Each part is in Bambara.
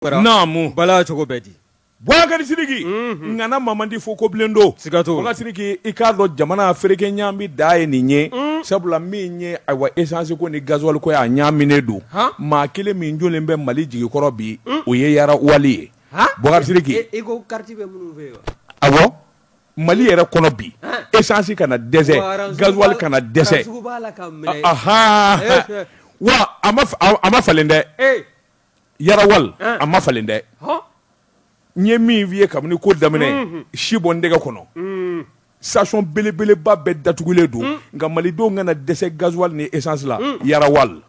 naamu bala cogo bɛ di Boubacar Sidiki ŋana Mamadi fo kobilen don siga t'o la Boubacar Sidiki i k'a dɔn jamana fereke ɲaami da ye nin ye sabula min ye ayiwa essence ko ni gasoil ko ye a ɲaaminen don maa kelen min jɔlen bɛ Mali jigikɔrɔ bi o ye Yara Oil ye Boubacar Sidiki e ko carte bɛ minnu fɛ yen wa awɔ Mali yɛrɛ kɔnɔ bi essence kana dɛsɛ gasoil kana dɛsɛ ahaa wa a ma falen dɛ. Yara Oil a ma falen dɛ n ye min f'i ye kabini ko daminɛ si bɔ n dɛgɛ kɔnɔ station belebeleba bɛɛ datugulen don nka malidenw kana dɛsɛ gasoil ni essence la Yara Oil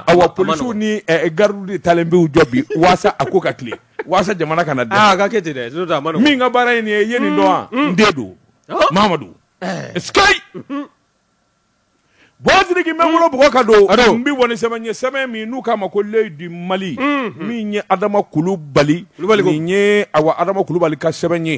awa polisiw ni gardiw de talen b'u jɔ bi walasa a ko ka tilen walasa jamana kana dɛsɛ a ka kɛ ten min ka baara ye nin ye i ye nin dɔn wa n den don Mamadu Boubacar Sidiki n bɛ n bolo bɔ o kɔ ka don n bɛ wali sɛbɛn ye sɛbɛn min n'u k'a ma ko L'œil du Mali min ye Adama Kulubali nin ye awa Adama Kulubali ka sɛbɛn ye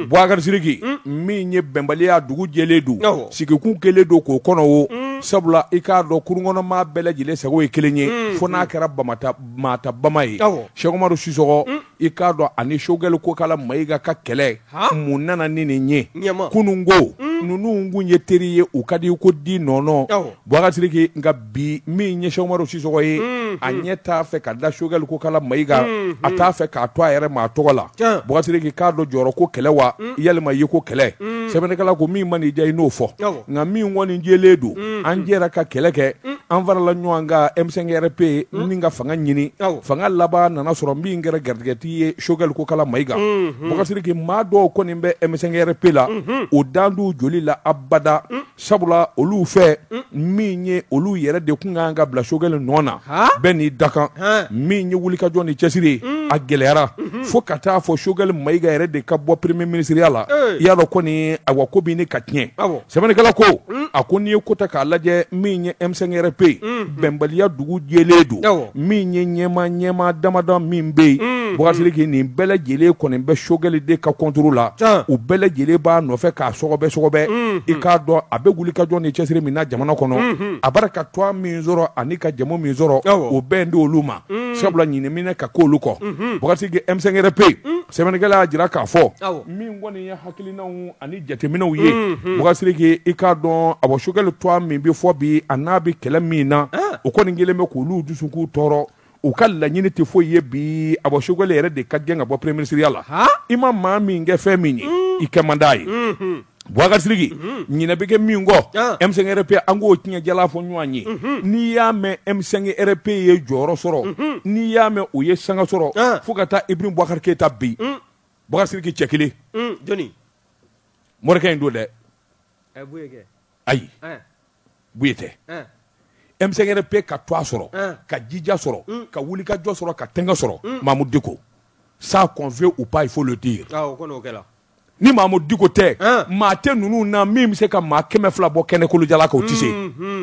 Boubacar Sidiki min ye bɛnbaliya dugu jɛlen don sigikun kɛlen don k'o kɔnɔ o sabula i k'a dɔn kurunkɔnɔmaa bɛɛ lajɛlen sago ye kelen ye fo n'a kɛra bamata bama ye Cheikh Umaru Sisɔkɔ i k'a dɔn ani Choguel Kokala Mayiga ka kɛlɛ mun nana ni nin ye kununko hmm. ninnu kun ye teri ye u ka di ko di nɔnɔ Boubacar Sidiki nka bi min ye Cheikh Umaru Sisɔkɔ ye hmm. a ɲɛ t'a fɛ ka da Choguel Kokala Mayiga hmm. a t'a fɛ k'a to a yɛrɛ ma a tɔgɔ la Boubacar Sidiki k'a dɔn jɔyɔrɔ ko kɛlɛ wa walima yeko kɛlɛ sɛbɛnnikɛla ko min man'i diya i n'o fɔ nka min kɔni jɛlen don an jɛra ka kɛlɛ kɛ an farala ɲɔgɔn kan M5-RFP nin ka fanga ɲini fanga laban nana sɔrɔ min kɛra garijɛgɛtigi ye Choguel Kokala Mayiga Boubacar Sidiki maa dɔw kɔni bɛ M5-RFP la o tɛna don u joli la abada sabula olu fɛ min ye olu yɛrɛ de tun ka kan ka bila Choguel nɔ na bɛɛ n'i dakan min ye wulikajɔ ni cɛsiri ye a gɛlɛyara fo ka taa a fɔ Choguel Mayiga yɛrɛ de ka bɔ premier minisiriya la i y'a dɔn kɔni awa ko bɛ ɲini ka tiɲɛ sɛbɛnnikɛla ko a ko n'i ye ko ta k'a lajɛ min ye M5-RFP ye bɛnbaliya dugu jɛlen don min ye ɲɛmaa ɲɛmaa damadɔ min bɛ yen Boubacar Sidiki nin bɛɛ lajɛlen kɔni bɛ Choguel de ka contre la u bɛɛ lajɛlen b'a nɔfɛ k'a sɔgɔbɛ sɔgɔbɛ i k'a dɔn a bɛ wulikajɔ ni cɛsiri min na jamana kɔnɔ a bɛ ka tɔgɔ min sɔrɔ ani ka jamu min sɔrɔ o bɛ digi olu ma sabula ɲinɛ bɛ ɲini ka k'olu kɔ Boubacar Sidiki M5-RFP yen sɛbɛnnikɛla y'a jira k'a fɔ min kɔni ye hakilina Ani jateminɛw ye bubakari sidiki i k'a dɔn a bɔ sogɛli tɔgɔ min bɛ fɔ bi a n'a bɛ kɛlɛ min na o kɔni kɛlen bɛ k'olu dusukun tɔɔrɔ u ka laɲini tɛ foyi ye bi a bɔ sogɛli yɛrɛ de ka gɛn ka bɔ peremiye minisiriya la i ma maa min kɛ fɛn min ye i kɛ man d'a ye bubakari sidiki ɲinɛ bɛ kɛ min kɔ M5-RFP an k'o tiɲɛ jɛ fɔ ɲɔgɔn ye n'i y'a mɛn M5-RFP ye jɔyɔrɔ sɔrɔ n'i y'a mɛn o ye sanga sɔrɔ fo ka taa ibarahimu bubakari keyita bin bubakari sidiki cɛ kelen jɔni morikɛ in don dɛ ayi buye tɛ M5-RFP ka tɔgɔ sɔrɔ ka jija sɔrɔ ka wulikajɔ sɔrɔ ka tɛgɛ sɔrɔ mamudu diko ça qu'on veut ou pas il faut le dire ni mamudu diko tɛ maa tɛ ninnu na min bɛ se ka maa kɛmɛ fila bɔ kɛnɛ kolo jalan kan o tɛ se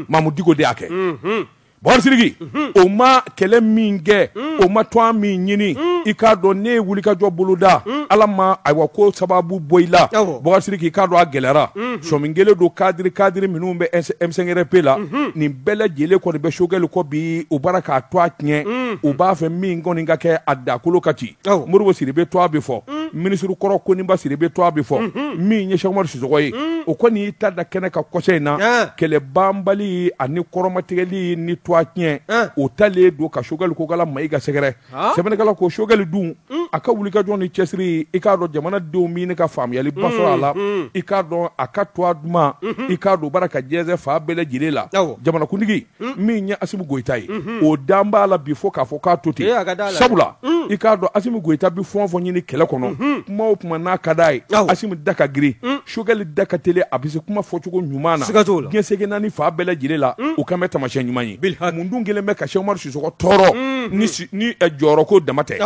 mamudu diko de y'a kɛ Bubakari sidiki o ma kɛlɛ min kɛ o ma tɔgɔ min ɲini i k'a dɔn n'i ye wulikajɔ boloda ala ma ayiwa k'o sababu bɔ i la bubakari sidiki i k'a dɔn a gɛlɛyara sɔmin kɛlen don kadiri kadiri minnu bɛ M5-RFP la nin bɛɛ lajɛlen kɔni bɛ sogɛli kɔ bi u b'a la k'a tɔgɔ tiɲɛ u b'a fɛ min kɔni ka kɛ a dakolo ka ci modibo sidibe tɔgɔ bɛ fɔ mm. minisiri kɔrɔ koniba sidibe tɔgɔ bɛ fɔ mm-hmm. min ye sɛki umaru sisɔkɔ ye mm. o kɔni y'i ta da kɛnɛ kan kɔsa in na kɛlɛ banbali ani kɔrɔmatigɛli ni tɔgɔtiɲɛ o talen don ka sogɛli kokala mayiga sɛgɛrɛ sɛbɛnnikɛla ko sogɛli dun mm. a ka wulikajɔ ni cɛsiri i k'a dɔn jamanadenw min ka faamuyaliba sɔrɔ a la i k'a dɔn a ka tɔgɔ duman mm-hmm. i k'a dɔn b'a la ka jɛnsɛn fan bɛɛ lajɛlen la jamanakuntigi hmm. min ye asimi goyita ye hmm. o dan b'a la bi fo k'a fɔ k'a to ten sabula i k'a dɔn asimi goyita bɛ fɛn o fɛn ɲini kɛlɛ kɔnɔ kuma o kuma n'a ka d'a ye asimi da ka girin sogɛli da ka teli a bɛ se kuma fɔcogo ɲuman na diɲɛ seleke naani fan bɛɛ lajɛlen la o kan bɛ taamasiyɛn ɲuman ye mun dun kɛlen bɛ ka sɛki umaru sisɔkɔ tɔɔrɔ ni eh, jɔyɔrɔko dama tɛ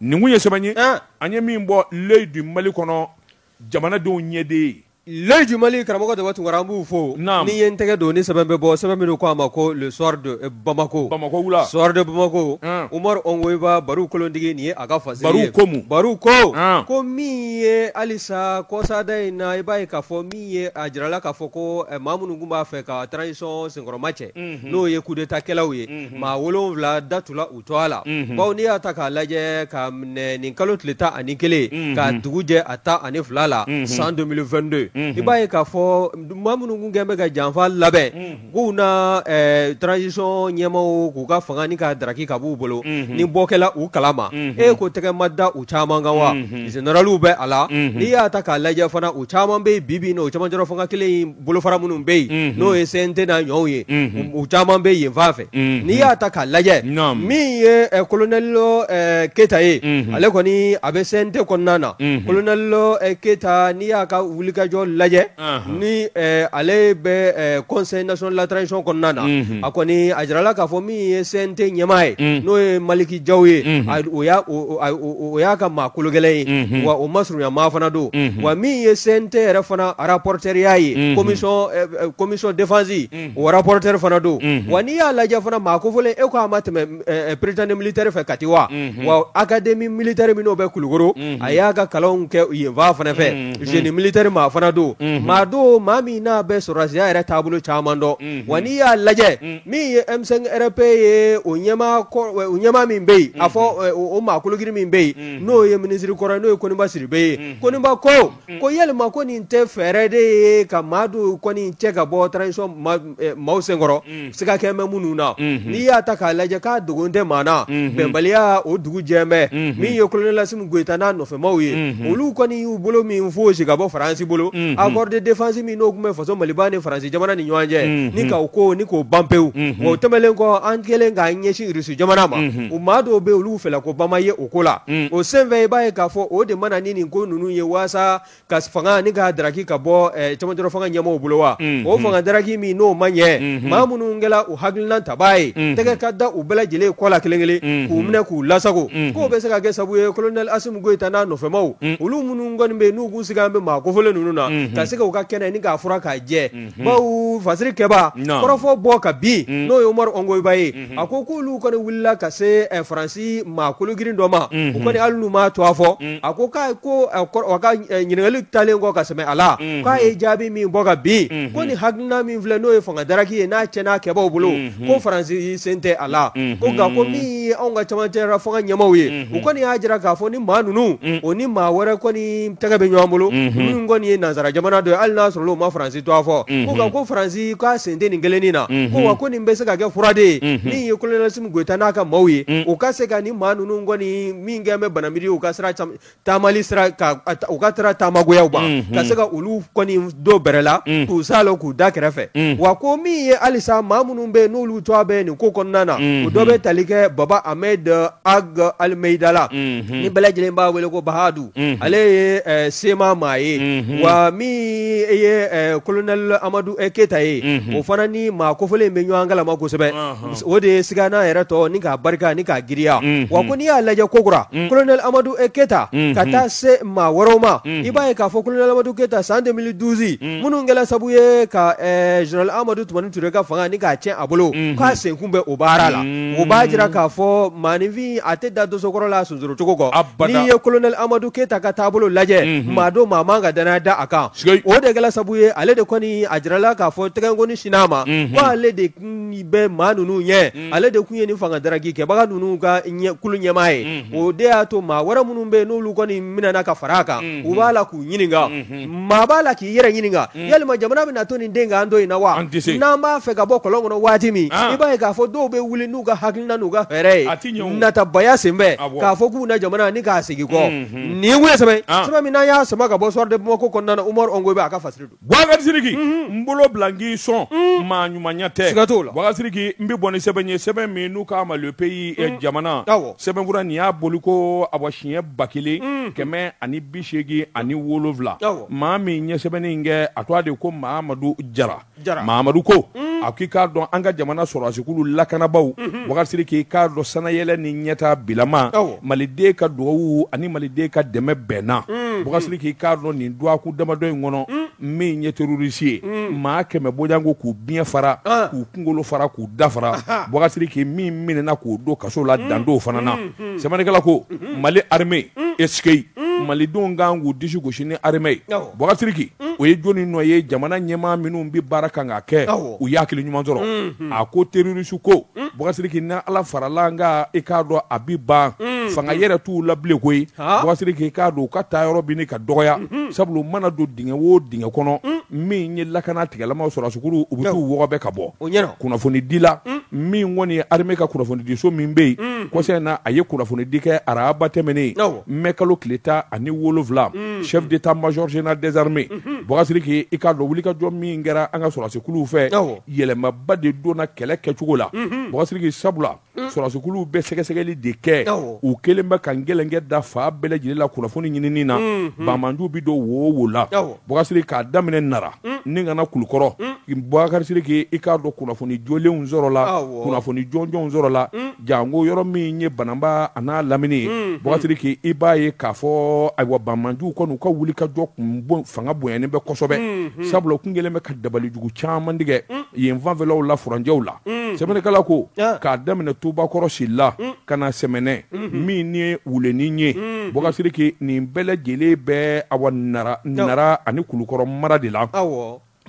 nin kun ye sɛbɛn ye eh. an ye min bɔ l'œil du mali kɔnɔ Jamanadenw ɲɛden ye. L'œil du Mali karamɔgɔ Daba Tunkara an b'u fo. Naamu. Ne ye n tɛgɛ don ni sɛbɛn bɛ bɔ, sɛbɛn min u k'a ma ko le soir de Bamako. Bamako wula. Soir de Bamako. An! Umaru Ɔngoyiba Baru kolondigi nin ye a ka fasiri ye. Baru ko mun? Baru ko. An! Ko min ye halisa kɔsada in na, i b'a ye k'a fɔ min ye a jirala k'a fɔ ko maa minnu tun b'a fɛ ka transition senkɔrɔma cɛ. Unhun! N'o ye coup d'Etat kɛlaw ye. Unhun! Maa 7 datugula u Tɔgɔ la bawo n'i y'a ta k'a lajɛ ka minɛ nin kalo tile tan ani kelen ka dugu jɛ a tan ani fila la san 2022 i b'a ye k'a fɔ maa minnu tun kɛlen bɛ ka janfa labɛn k'u na transition ɲɛmaaw k'u ka fanga ni ka daraki ka b'u bolo ni bɔ kɛla u kalama e ko tɛgɛ ma da u caman kan wa zeneraliw bɛ a la n'i y'a ta k'a lajɛ fana u caman bɛ bi o caman fanga kelen bolofara minnu bɛ yen n'o ye CNT n'a ɲɔgɔnw ye u caman bɛ yen fan fɛ n'i y'a ta k'a lajɛ min ye kolonɛlo keyita ye ale kɔni a bɛ CNT kɔnɔna na kolonɛlo keyita n'i y'a ka wulikajɔ lajɛ ni ale bɛ conseil national de la transition kɔnɔna na a kɔni a jirala k'a fɔ min ye CNT ɲɛmaa ye n'o ye maliki jaw ye o o y'a ka maa kologɛlɛn ye wa o masurunyamaa fana don wa min ye CNT yɛrɛ fana rapporteurya ye commission défense o rapporteur fana don wa n'i y'a lajɛ fana maa kofɔlen e k'a ma tɛmɛ prytanée militaire fɛ kati wa wa académie militaire min bɛ kulukoro a y'a ka kalan kɛ yen fan fana fɛ génie militaire maa fana don maa don maa min n'a bɛ sɔrɔdasiya yɛrɛ taabolo caman dɔn wa n'i y'a lajɛ Min ye M5-RFP ye o ɲɛmaa min bɛ yen a fɔ o maa kologirin min bɛ yen n'o ye minisiri kɔrɔ n'o ye koniba sidibe ye koniba ko ko yɛlɛma ko nin tɛ fɛɛrɛ de ye ka maa dɔw kɔni cɛ ka bɔ transition maaw senkɔrɔ siga kɛlen bɛ minnu na n'i y'a ta k'a lajɛ k'a dogolen tɛ maa na bɛnbaliya o dugu jɛlen bɛ min ye kolonɛli asimi goyita n'a nɔfɛmaw ye olu kɔni y'u bolo min foosi ka bɔ faransi bolo accord de défense min n'o tun bɛ faso maliban ni faransi jamana ni ɲɔgɔn cɛ ni k'o ko ni k'o ban pewu wa o tɛmɛnlen kɔ an kɛlen k'an ɲɛsin rusi jamana ma o maa dɔw bɛ olu fɛla ko bama ye o ko la o senfɛ i b'a ye k'a fɔ o de mana ni nin ko ninnu ye walasa ka fanga ni k'a daraki ka bɔ camancɛrɔ fanga ɲɛmaaw bolo wa o fanga daraki min n'o ma ɲɛ maa minnu kɛra u hakilina tabaa ye tɛgɛ ka da u bɛɛ lajɛlen kɔ la kelen kelen k'u minɛ k'u lasagon k'o bɛ se ka kɛ sababu ye kolonɛli asimi goyita n'a nɔfɛmaw olu minnu kɔni bɛ yen n'u tun sigalen bɛ maa kofɔlen ninnu na ka se k'u ka kɛnɛ ni k'a furan k'a jɛ bawo fasiri kɛbaa kɔrɔfɔ bɔ ka bin n'o ye umaru ɔngoyiba ye a ko k'olu kɔni wulila ka se faransi maa kologirin dɔ ma u kɔni hali n'u m'a tɔgɔ fɔ a ko k'a ko a ka ɲininkali talen kɔ ka sɛmɛ a la k'a ye jaabi min bɔ ka bin ko ni hakilina min filɛ n'o ye fanga daraki ye n'a cɛnna a kɛbaaw bolo ko faransi sen tɛ a la ko nka ko min ye anw ka camancɛra fanga ɲɛmaaw ye u kɔni y'a jira k'a fɔ ni maa ninnu o ni maa wɛrɛ kɔni tɛgɛ bɛ ɲɔgɔn bolo nin kɔni ye nansara jamana dɔ ye hali n'a sɔrɔla u ma faransi tɔgɔ fɔ nka ko faransi k'a sen tɛ nin kelen nin na ko ko nin bɛ se ka kɛ fura de ye min ye kolonɛli asimi goyita n'a ka maaw ye u ka se ka ni maa ninnu kɔni min kɛlen bɛ banamini u ka sira taamali sira ka u ka taara taamagoyaw ban ka se ka olu kɔni don bɛrɛ la k'u sa lɔ k'u da kɛrɛfɛ wa ko min ye halisa maa minnu bɛ n'olu tɔgɔ bɛ nin ko kɔnɔna na o dɔ bɛ tali kɛ baba ahmed ag almeida la ni bɛɛ lajɛlen b'a wele ko bahadu ale ye eh, CMA maa ye wa min ye eh, kolonɛli amadu eh, keyita ye o fana ni maa kofɔlen bɛ ɲɔgɔn kalama kosɛbɛ o de ye siga n'a yɛrɛ tɔ ni k'a barika ni k'a giriya wa ko n'i y'a lajɛ kokura kolonɛ amadu e keyita ka taa se maa wɛrɛw ma i b'a ye k'a fɔ kolonɛ amadu keyita san deux mille douze minnu kɛra sabu ye ka zenerali amadu tumani ture ka fanga ni k'a cɛn a bolo k'a sen kun bɛ o baara la u b'a jira k'a fɔ maaninfin a tɛ da dosokɔrɔ la sonsorocogo ko n'i ye kolonɛ amadu keyita ka taabolo lajɛ maa don maa man ka danna da a kan o de kɛra sabu ye ale de kɔni a jirala k'a fɔ tɛgɛkɔni sinna a ma de bɛ maa ninnu ɲɛ ale de tun ye nin fanga daki kɛbaga ninnu ka kulu ɲɛmaa ye o de y'a to maa wɛrɛ minnu bɛ n'olu kɔni minɛna ka fara a kan u b'a la k'u ɲininka maa b'a la k'i yɛrɛ ɲininka yalima jamana bɛ na to nin den an don in na wa n'an b'a fɛ ka bɔ kɔlɔn kɔnɔ waati min i b'a k'a fɔ dɔw bɛ wuli n'u ka hakilina n'u ka fɛɛrɛ ye natabaya senfɛ k'a fɔ k'u na jamana ni k'a segin kɔ nin sɛbɛn min n'an y'a sama ka bɔ soir de bamako kɔnɔna umaru ongoyiba a ka fasari don Bukasiriki n bolo bila n k'i sɔn maa ɲumanya tɛ bukasiriki n bɛ bɔ ni sɛbɛn ye sɛbɛn min n'u k'a ma le pays jamana sɛbɛnfura nin y'a bɔliko awa siɲɛ ba kelen kɛmɛ ani bi seegin ani wolowula maa min ye sɛbɛnni kɛ a tɔgɔ de ko mamadu jara mamadu ko a k'i k'a dɔn an ka jamana sɔrɔdasikulu lakanabagaw bukasiriki i k'a dɔn sannayɛlɛn ni ɲɛtaa bilama maliden ka dugawu ani maliden ka dɛmɛ bɛnna mm. bukasiriki k'a dɔn nin dɔgɔkun damadɔ in kɔnɔ mm. min ye terrorisi ye mm. maa kɛmɛ bɔɲɔgɔnko k'u biɲɛ fara ah. k'u kungolo fara k'u da fara bukasiriki min minɛna k'o don kaso la dan t'o fana na sɛbɛnnikɛla ko mm-hmm. mali armée est-ce que malidenw kan k'u disi gosi ni armée ye bukasiriki o ye jɔni nɔ ye jamana ɲɛmaa minnu bɛ baara kan ka kɛ u y'a hakili ɲuman sɔrɔ mm-hmm. a ko terrorisi ko Bukasiriki ni ala farala an kan i k'a dɔn a bi ban fanga yɛrɛ t'u la bilen koyi bukasiriki i k'a dɔn u ka taayɔrɔ bɛ ka dɔgɔya sabula u mana don dingɛ o dingɛ kɔnɔ min ye lakana tigilamaa sɔrɔdasikulu u bɛ t'u wɔgɔbɛ ka bɔ o kunnafoni dila min kɔni ye armée ka kunnafonidiso min bɛ yen kɔsa in na a ye kunnafonidi kɛ araba tɛmɛnen mɛ kalo tile tan ani wolonwula chef d'état major général des armées bukasiriki i k'a dɔn wulikajɔ min kɛra an ka sɔrɔdasikulu fɛ yɛlɛmaba de donna kɛlɛ kɛcogo la bukasiriki sabula sɔrɔdasikuluw bɛ sɛgɛsɛgɛli de kɛ u kelen bɛ ka gɛlɛnkɛ da fan bɛɛ lajɛlen la kunnafoni ɲinini na banbaanciw bɛ don wo o wo la bukasiriki k'a daminɛ nara ni ka na kulukɔrɔ bukasiriki i k'a dɔn kunnafoni jɔlenw sɔrɔla kunnafoni jɔnjɔnw sɔrɔla janko yɔrɔ min ye banamba an'a lamini ye hmm, hmm. bukasiriki i b'a ye k'a fɔ ayiwa banbaanciw kɔni u ka wulikajɔ kun fanga bonyanin bɛ kosɛbɛ hmm, sabula u kun kelen bɛ ka dabalijugu caman tigɛ yen fanfɛlaw la furancɛw la sɛbɛnnikɛla ko ah. k'a daminɛ tubakɔrɔ sila ka na sɛmɛnɛ min ni wuleni ye bukasiriki nin bɛɛ lajɛlen bɛ awa nara ani kulukɔrɔ mara de la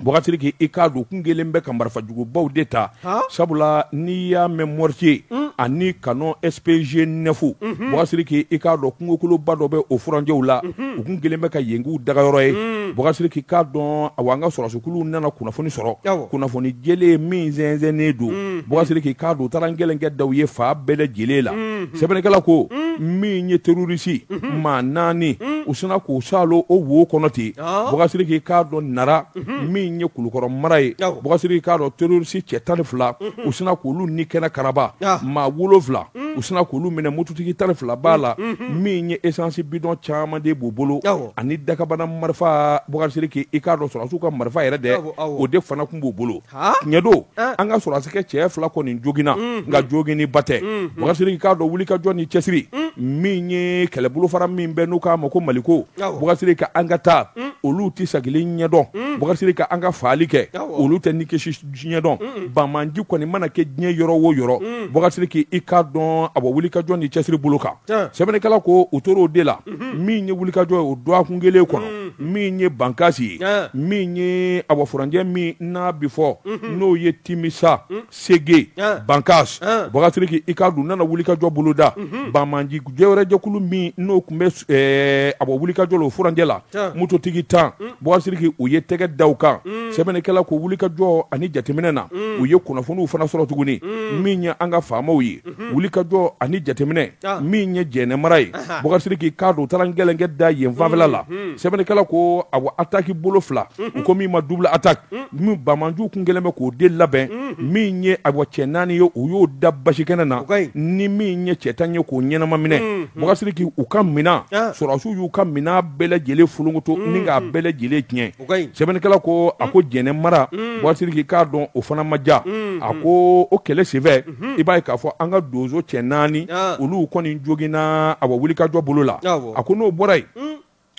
Bɔkasiriki i k'a dɔn kun kɛlen bɛ ka marifajugubaw de ta sabula n'i y'a mɛn mortier ani canon SPG neuf Bɔkasiriki i k'a dɔn kungokoloba dɔ bɛ o furancɛw la u kun kɛlen bɛ ka yen k'u dagayɔrɔ ye Bɔkasiriki i k'a dɔn awa an ka sɔrɔsi kuluw nana kunnafoni sɔrɔ kunnafoni jɛlen min sɛnsɛnnen don Bɔkasiriki i k'a dɔn u taara gɛlɛnkɛ da u ye fan bɛɛ lajɛlen la sɛbɛnnikɛla ko min ye terroriste maa naani u sinna k'u saalo o wo kɔnɔ ten Bɔkasiriki i k'a dɔn Nara, unhun, min ye Kulukɔrɔ mara ye, awɔ, Bɔkasiriki i k'a dɔn terroriste cɛ 12, unhun, u sinna k'olu ni kɛnɛ karaba, ɔɔ, maa 7, unhun, u sinna k'olu minɛ mototigi 12 b'a la, unhun, min ye essence bidon caman de b'u bolo, awɔ, ani dakabana marifa, Bɔkasiriki i k'a dɔn sɔrɔdasiw ka marifa yɛrɛ dɛ, awɔ, awɔ, o de fana kun b'u bolo tiɲɛ don an ka sɔrɔdasikɛ cɛ fila kɔni joginna nka joginni ba tɛ Bɔkasiriki i k'a dɔn wulikajɔ ni cɛsiri min ye kɛlɛbolofara min bɛ n'u k'a ma ko Maliko Bɔkasiriki an ka taa olu tɛ sagili ɲɛdɔn Bɔkasiriki an ka faali kɛ olu tɛ ni kisi ɲɛdɔn banmanji kɔni mana kɛ diɲɛ yɔrɔ o yɔrɔ Bɔkasiriki i k'a dɔn awa wulikajɔ ni cɛsiri bolo kan sɛbɛnnikɛla ko u tora o de la min ye wulikajɔ ye o dɔgɔkun kelen kɔnɔ min ye Bankasi ye min ye awa furancɛ min n'a bɛ fɔ n'o ye Timisa Sege Bankasi Bɔkasiriki i k'a dɔn nana wulikajɔ boloda banmanji jɛ wɛrɛ jɛkulu min n'o tun bɛ awa wulikajɔ la o furancɛ la mototigi tan Bɔkasiriki u ye tɛgɛ da u kan sɛbɛnnikɛla ko wulikajɔ ani jateminɛ na u ye kunnafoniw fana sɔrɔ tuguni min ye an ka FAMaw ye wulikajɔ ani jateminɛ min ye Jɛnɛ mara ye Bɔkasiriki i k'a dɔn u taara gɛlɛnkɛ da yen fanfɛla la sɛbɛnnikɛla ko awa attaque bolo fila u ko min ma double attaque min banmanjiw kun kɛlen bɛ k'o de labɛn min ye awa cɛ naani ye u y'o da basi kɛnɛ na ni min ye cɛ tan ye k'o ɲɛnama minɛ Bɔkasiriki u ka minɛn sɔrɔsiw y'u ka minɛn bɛɛ lajɛlen fulunkutu ni k'a bɛɛ lajɛlen tiɲɛ sɛbɛnnikɛla ko a ko Jɛnɛ mara Bɔkasiriki i k'a dɔn o fana ma ja a ko o kɛlɛ senfɛ i b'a ye k'a fɔ an ka donso cɛ naani olu kɔni joginna awa wulikajɔ bolo la a ko n'o bɔra yen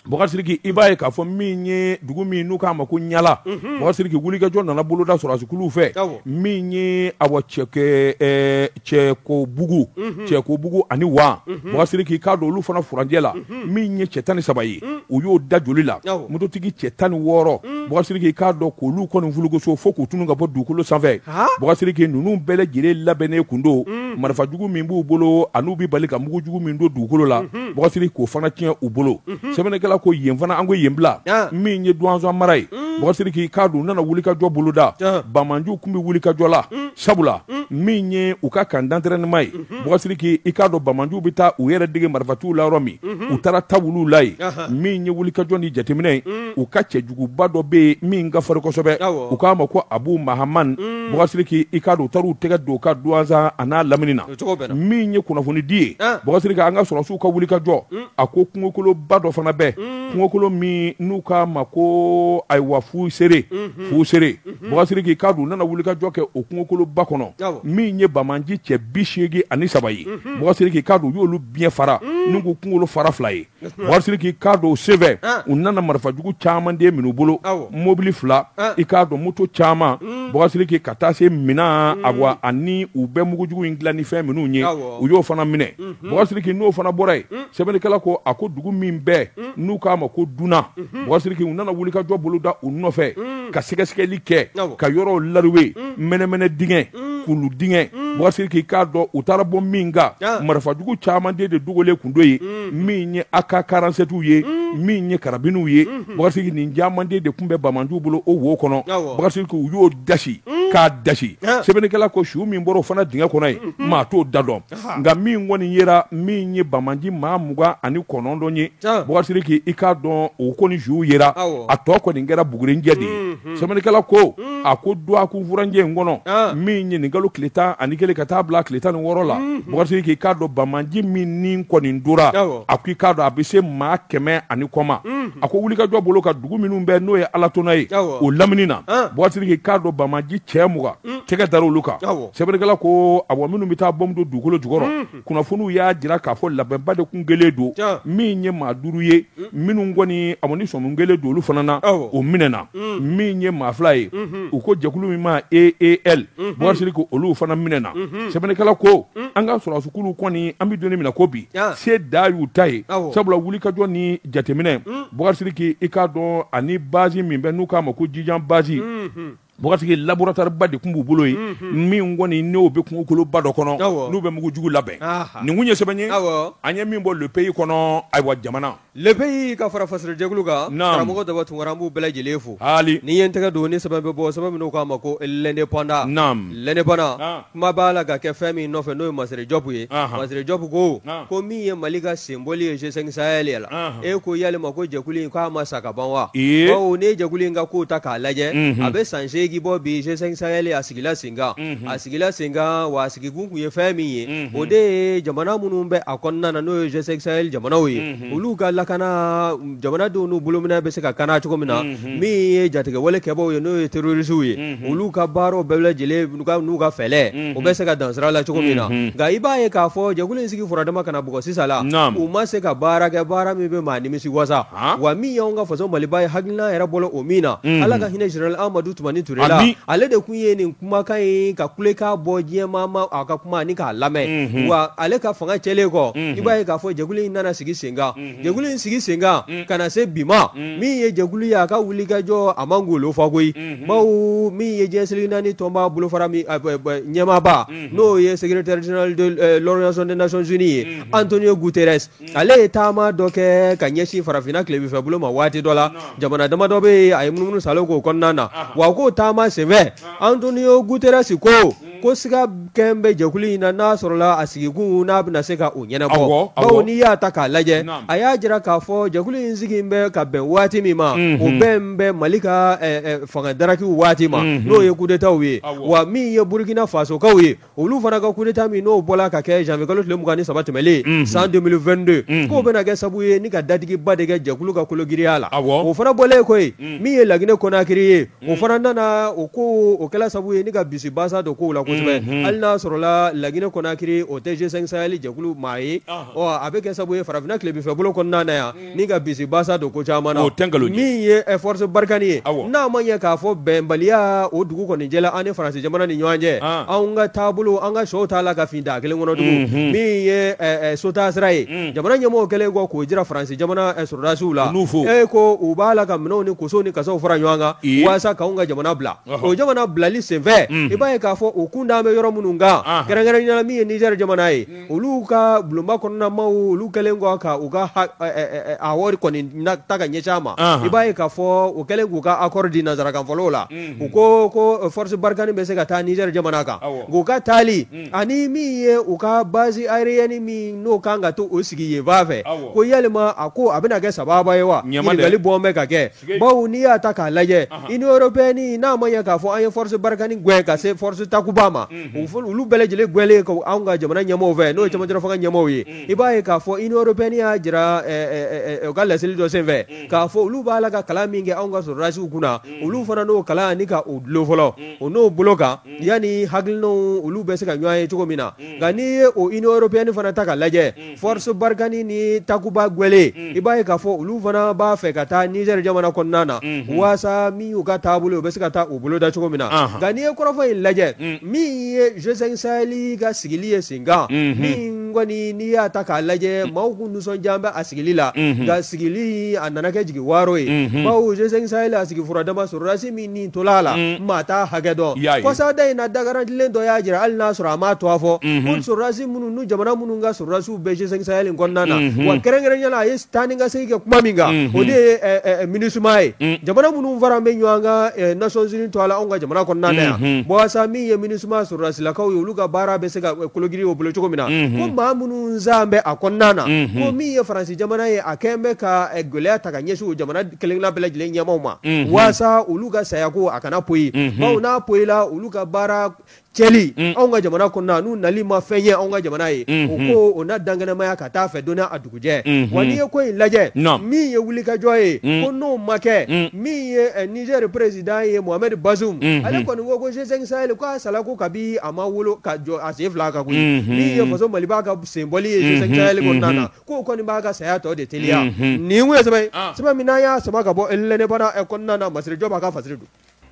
Bɔkasiriki i b'a ye k'a fɔ min ye dugu min n'u k'a ma ko Ɲala Bɔkasiriki wulikajɔ nana boloda sɔrɔdasi kuluw fɛ min ye awa cɛ Cɛkobugu Cɛkobugu ani Wa Bɔkasiriki i k'a dɔn olu fana furancɛ la min ye cɛ tan ni saba ye u y'o da joli la mototigi cɛ tan ni wɔɔrɔ Bɔkasiriki i k'a dɔn k'olu kɔni fulugoso fo k'u tunu ka bɔ dugukolo sanfɛ Bɔkasiriki ninnu bɛɛ lajɛlen labɛnnen kun don marifa jugu min b'u bolo an'u bɛ bali ka mugu jugu min don dugukolo la Bɔkasiriki k'o fana tiɲɛ u bolo sɛbɛnnikɛla ko yen fana an ko yen bila min ye Duwanza mara ye Bɔkasiriki i k'a dɔn u nana wulikajɔ boloda banmanjiw kun bɛ wulikajɔ la sabula mm. min ye u ka camp d'entraînement ye mm-hmm. bɔgasiri k'i i k'a dɔn banbaanciw bɛ taa u yɛrɛ dege marifatiw la yɔrɔ min mm-hmm. u taara ta bila o la yen min ye wulikajɔ ni jateminɛ ye mm. u ka cɛjuguba dɔ bɛ yen min ka fari kosɛbɛ u k'a ma ko abu mahaman mm. bɔgasiri k'i i k'a dɔn u taara u tɛgɛ don o kan Duwanza a n'a lamini na min ye kunnafonidi ye ah. bɔgasiri k'an ka sɔrɔsiw ka wulikajɔ a ko kungokoloba dɔ fana bɛ kungokolo min n'u k'a ma ko ayiwa fu sere mm-hmm. fu sere Bɔgasiri k'i k'a dɔn u nana wulikajɔ kɛ o kungokoloba kɔnɔ min ye banbaanci cɛ bi seegin ani saba ye bɔgasiri k'u y'olu biɲɛ fara n'u ko kunkolo fara fila ye bɔgasiri k'i k'a dɔn o senfɛ u nana marifa jugu caman de minɛ u bolo mɔbili fila i k'a dɔn moto caman bɔgasiri k'i ka taa se minɛn a wa ani u bɛ mugujugu in dilan ni fɛn minnu ye u y'o fana minɛ bɔgasiri k'i n'o fana bɔra yen sɛbɛnnikɛla ko a ko dugu min bɛ n'u k'a ma ko Duna bɔgasiri k'i u nana wulikajɔ boloda u nɔfɛ ka sɛgɛsɛgɛli kɛ ka yɔrɔw laruwe mɛnɛmɛnɛ dingɛ kulu dingɛ bɔgasiri k'i k'a dɔn u taara bɔ min kan marifajugu caman de dogolen tun don yen min ye AK karantisɛtiw ye min ye karabiniw ye bɔgasiri k'i nin caman de tun bɛ banbaanciw bolo o wo kɔnɔ bɔgasiri k'u y'o dasi k'a dasi sɛbɛnnikɛla ko su min bɔra o fana dingɛ kɔnɔ yen maa t'o da dɔn nka min kɔni yera min ye banbaanci maa mugan ani kɔnɔntɔn ye bɔgasiri k'i k'a dɔn o kɔni suw yera a tɔ kɔni kɛra bugurijɛ de ye sɛbɛnnikɛla ko a ko dɔgɔkun furancɛ in kɔnɔ min ye nin kalo tile tan ani kelen ka taa bila tile tan ni wɔɔrɔ la bɔgasiri k'i k'a dɔn banbaanci min ni kɔni tora a ko i k'a dɔn a bɛ se maa kɛmɛ ani kɔma a ko wulikajɔ bolo ka dugu minnu bɛ n'o ye Alatona ye o lamini na bɔgasiri k'i k'a dɔn banbaanci cɛ mugan tɛgɛ dara olu kan Sɛbɛnnikɛla ko awɔ minnu bɛ taa bɔmu don dugukolo jukɔrɔ kunnafoniw y'a jira k'a fɔ labɛnba de tun kɛlen don min ye maa duuru ye minnu kɔni awɔ ni sɔmi kɛlen don olu fana na o minɛna min ye maa fila ye u ko jɛkulu min ma e e bɔgasiri ko olu fana minɛna sɛbɛnnikɛla ko an ka sɔrɔsikulu kɔni an bɛ don min na ko bi se da y'u ta ye sabula wulikajɔ ni jateminɛ bɔgasiri k'i k'a dɔn ani base min bɛ n'u k'a ma ko Jijan base Bɔgasiri k'i laboratoire ba de tun b'u bolo yen min kɔni n'o bɛ kungokoloba dɔ kɔnɔ n'u bɛ mugu jugu labɛn nin tun ye sɛbɛn ye an ye min bɔ Le Pays kɔnɔ ayiwa jamana Le Pays ka fara fasiri jɛkulu kan karamɔgɔ Daba Tunkara an b'u bɛɛ lajɛlen fo haali ne ye n tɛgɛ don ni sɛbɛn bɛ bɔ sɛbɛn min n'u k'a ma ko L'Indépendant na L'Indépendant Kuma b'a la ka kɛ fɛn min nɔfɛ n'o ye Masire Jɔpu ye, anhan, Masire Jɔpu ko, naamu, ko min ye Mali ka senbɔli ye G5 Sahel la, anhan, e ko yalima ko jɛkulu in k'a ma sa ka ban wa? Ee! Bawo n'i ye jɛkulu in ka kow ta k'a lajɛ, unhun, a bɛ san seegin bɔ bi G5 Sahel a sigila senkan, unhun, a sigila senkan wa a sigikun tun ye fɛn min ye, unhun, o de ye jamana minnu bɛ a kɔnɔna na n'o ye G5 Sahel jamanaw ye, unhun. olu ka lakana jamanadenw n'u bolominɛn bɛ se ka kana cogo min na min ye jatigɛwale kɛbaw ye n'o ye terorisiw ye olu ka baaraw bɛɛ lajɛlen n'u ka fɛlɛ o bɛ se ka dansira la cogo min na nka i b'a ye k'a fɔ jɛkulu in sigi fɔra dama ka na bɔ sisan la u ma se ka baara kɛ baara min bɛ maa nimisi wasa wa min y'an ka faso maliba ye hakilina yɛrɛ bɔla o min na ala ka hinɛ général amadu tumani ture la ale de tun ye nin kumakan in ka kulekan bɔ diɲɛ ma a ka kuma ni ka lamɛn mhm. wa ale ka fanga cɛlen kɔ mhm. i b'a ye k'a fɔ jɛkulu in nana sigi senkan mhm. jɛkulu in sigi senkan ka na se bi ma min ye jɛkulu ye a ka wulikajɔ a man golo fɔ koyi bawo min ye diɲɛ seleke naani tɔnba bolofara min ɲɛmaaba n'o ye secrétaire général de euh, l'organisation des nations unies ye Antonio Guterres ale ye taama dɔ kɛ ka ɲɛsin farafinna tilebinfɛ bolo ma waati dɔ la jamana dama dɔ bɛ yen a ye munumunu saalo k'o kɔnɔna na wa k'o taama senfɛ antonio guterres ko hmm. ko siga kɛn bɛ jɛkulu in na n'a sɔrɔla a sigikun n'a bɛna se ka o ɲɛnabɔ bawo n'i y'a ta k'a lajɛ a y'a jira k'a fɔ jɛkulu in sigi bɛ ka bɛn waati min ma hmm. o bɛn bɛ mali ka eh, eh, fanga darakiw waati ma hmm. n'o ye kudetaw ye wa min ye burukina fasokaw ye olu fana ka kudeta min n'o bɔra ka kɛ janvier kalo tile mugan ni saba tɛmɛlen san 2022 k'o bɛna kɛ sabu ye ni ka datigiba de kɛ jɛkulu ka kologiriya la o fana bɔlen kɔ min ye laginɛ konakiri ye o fana nana o ko o kɛra sabu ye ni ka bisibasa don kow la kosɛbɛ hali n'a sɔrɔla laginɛ konakiri o tɛ G5 Sahel jɛkulu maa ye a bɛ kɛ sabu ye farafinna tilebinfɛ bolo kɔnɔna na yan ni ka bisibasa don ko caman na min ye force barkhane ye n'a ma ɲɛ k'a fɔ bɛnbaliya o dugu kɔni jɛla an ni faransi jamana ni ɲɔgɔn cɛ an ka taabolo an ka shɔ t'a la ka fin da kelen kɔnɔ tugun min ye sotaa sira ye jamana ɲɛmɔgɔ kɛlen kɔ k'o jira faransi jamana sɔrɔdasiw la e ko u b'a la ka minɛnw ni kosow ni kasaw fara ɲɔgɔn kan walasa k'an ka jamana bila o jamana bilali senfɛ i b'a ye k'a fɔ u kun dalen bɛ yɔrɔ minnu kan kɛrɛnkɛrɛnnenya min ye niger jamana ye olu ka bulonba kɔnɔna maaw olu kɛlen kɔ ka u ka wari kɔni ta ka ɲɛsin a ma i b'a ye k'a fɔ o kɛlen k'u ka accord di nanzarakanfɔlaw la u ko ko force barkhane bɛ se ka taa niger jamana kan k'u ka taali ani min ye u ka base aérienne min n'o kan ka to u sigi yen fan fɛ ko yalima a ko a bɛna kɛ sababa ye wa ɲininkali bɔn bɛ ka kɛ bawo n'i y'a ta k'a lajɛ union européenne n'a ma ɲɛ k'a fɔ an ye force barkhane gɛn ka se force takuba ma olu bɛɛ lajɛlen gɛnnen kɔ anw ka jamana ɲɛmɔgɔ fɛ n'o ye cɛmancɛ fanga ɲɛmɔgɔ ye i b'a ye k'a fɔ union européenne y'a jira u ka laseli dɔ senfɛ k'a fɔ olu b'a la ka kalan min kɛ anw ka sɔrɔdasiw kunna olu fana n'o kalan ni ka o dulon fɔlɔ o n'o bolo kan yanni hakili olu bɛ se ka ɲɔgɔn ye cogo min na nka n'i ye o union européenne fana ta k'a lajɛ Force Barkhane ni Takuba gwɛlen i b'a ye k'a fɔ olu fana b'a fɛ ka taa Niger jamana kɔnɔna na waasa min y'u ka taabolo ye u bɛ se ka taa u bolo da cogo min na nka n'i ye kɔrɔfɔ in lajɛ min ye G5 Sahel ka sigili ye sen kan min kɔni n'i y'a ta k'a lajɛ maaw kun nisɔndiyalen bɛ a sigili la nka sigili a nana kɛ jigi waaro ye bawo G5 Sahel a sigi furadama sɔrɔdasi min ni tola a la maa t'a hakɛ dɔn kɔsada in na da garantilen dɔ y'a jira hali n'a sɔrɔ a m'a tɔgɔ fɔ ko sɔrɔdasi minnu ni jamana minnu ka sɔrɔdasiw bɛ G5 Sahel in kɔnɔna na wa kɛrɛnkɛrɛnnenya la a ye taa ni ka segin kɛ kuma min kan o de ye MINUSMA ye jamana minnu fara bɛ ɲɔgɔn kan Nations Unies tɔgɔ la anw ka jamana kɔnɔna na yan walasa min ye MINUSMA sɔrɔdasilakaw ye olu ka baara bɛ se ka kologiri o bolo cogo min na ko maa minnu zan bɛ a kɔnɔna na ko min ye Faransi jamana ye a kɛlen bɛ ka gɛlɛya ta ka ɲɛsin o jamana kelenna bɛɛ lajɛlen ɲɛmaaw ma walasa olu ka saya ko a kana poyi bawo n'a poyila olu ka baara cɛli anw ka jamana kɔnɔna n'u nali ma fɛn ɲɛ anw ka jamana ye o ko o na dankɛnɛmaya ka taa fɛ don n'a dugujɛ wa n'i ye ko in lajɛ min ye wulikajɔ ye ko n'o ma kɛ min ye Niger président ye Mohamed Bazoum ale kɔni ko G5 Sahel k'a sala ko kabi a ma wolo ka jɔ a sen fila kan koyi min ye faso Mali b'a ka senbɔli ye G5 Sahel kɔnɔna na k'o kɔni b'a ka saya tɔ de teliya nin ye sɛbɛn sɛbɛn min n'an y'a sama ka bɔ L'Indépendant kɔnɔna na Massiré Diop a ka fasiri don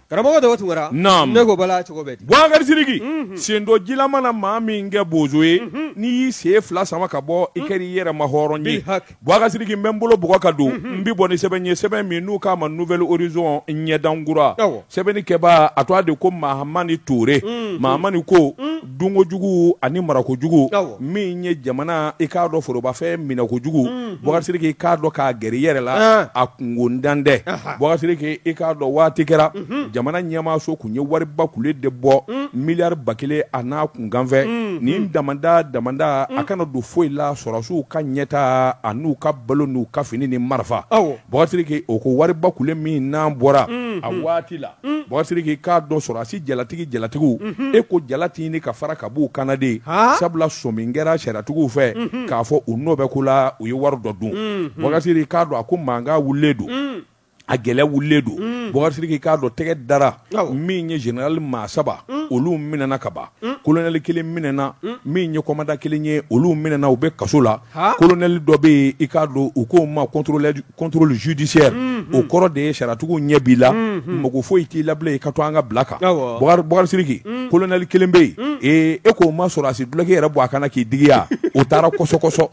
karamɔgɔ dɔ tun ne ko bala cogo bɛ Boubacar Sidiki sen don ji la mana maa min kɛ bozo ye n'i y'i sen fila sama ka bɔ i kɛra i yɛrɛ ma hɔrɔn ye Boubacar Sidiki n bɛ n bolo bɔgɔ ka don n bɛ bɔ ni sɛbɛn ye sɛbɛn min n'u k'a ma Nouvel Horizon ɲɛdankura sɛbɛnni kɛbaa a tɔgɔ de ko Mahamani Toure Mahamani ko dunkojugu ani marakojugu min ye jamana i k'a dɔn forobafɛn minɛkojugu mm, mm. Boubacar Sidiki i k'a dɔn k'a gɛrɛ i yɛrɛ la ah. a kunkotan dɛ Boubacar Sidiki i k'a dɔn waati kɛra mm-hmm. jamana ɲɛmaaso kun ye wariba kule de bɔ mm. miliyari ba kelen a n'a kunkanfɛnnin damada damada a kana don foyi la sɔrɔsiw ka ɲɛtaa a n'u ka balo n'u ka fini ni marifa Boubacar Sidiki o ko wariba kule min n'a bɔra a waati la Boubacar Sidiki k'a dɔn sɔrɔsi jalatigi jalatigiw e ko jala tɛ ɲini ka fara ka b'u kan na dɛ sabula sɔmi kɛra sariyatigiw fɛ k'a fɔ u nɔ bɛ ko la u ye wari dɔ dun Boubacar Sidiki k'a dɔn a ko mankan wulilen don a kɛlɛ wulilen don Boubacar Sidiki k'a dɔn tɛgɛ dara min ye zenerali maa saba olu minɛna ka ban kolonɛli kelen minɛna min ye kɔmandan kelen ye olu minɛna u bɛ kaso la kolonɛli dɔ bɛ yen i k'a dɔn u k'o ma contrôle judiciaire o kɔrɔ de ye sariyatigiw ɲɛ b'i la mako foyi t'i la bilen i ka to an ka bila kan Boubacar Sidiki kolonɛli kelen bɛ yen ee e k'o ma sɔrɔsi duloki yɛrɛ bɔ a kan na k'i digiya o taara kɔsɔkɔsɔ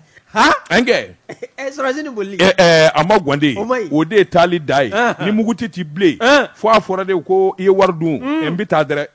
nka a ma gwan dɛ o de ye taali da ye ni muguti t'i bilen fo a fɔra de ko i ye wari dun n bɛ taa dɛ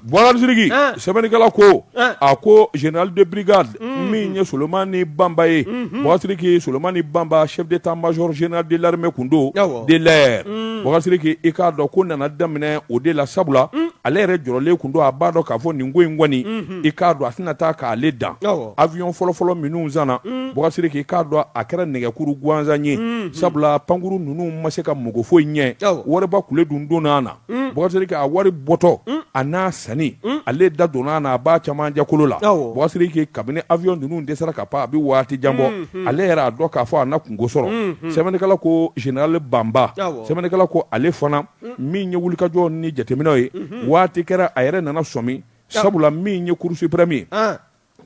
Bɔgasiriki sɛbɛnnikɛla ko a ko général de brigade min ye Solomani Bamba ye bɔgasiriki Solomani Bamba chef d'état-major général de l'armée kun don de l'air bɔgasiriki i k'a dɔn ko nana daminɛ o de la sabula ale yɛrɛ jɔrɔlen kun don a b'a dɔn k'a fɔ nin ko in kɔni i k'a dɔn a tɛna taa k'ale dan avion fɔlɔfɔlɔ minnu sanna bɔgasiriki k'a dɔn a kɛra nɛgɛkuru gansan ye sabula pankurun ninnu ma se ka mago foyi ɲɛ wariba kulu dun donna a na Bɔgasiriki a wari bɔtɔ a n'a sanni ale da donna n'a ba caman jakolo la bɔgasiriki kabini avion ninnu dɛsɛra ka pan a bɛ waati jan bɔ ale yɛrɛ a dɔn k'a fɔ a na kunko sɔrɔ sɛbɛnnikɛla ko général Bamba sɛbɛnnikɛla ko ale fana min ye wulikajɔ ni jateminɛw ye waati kɛra a yɛrɛ nana sɔmi sabula min ye cour suprême ye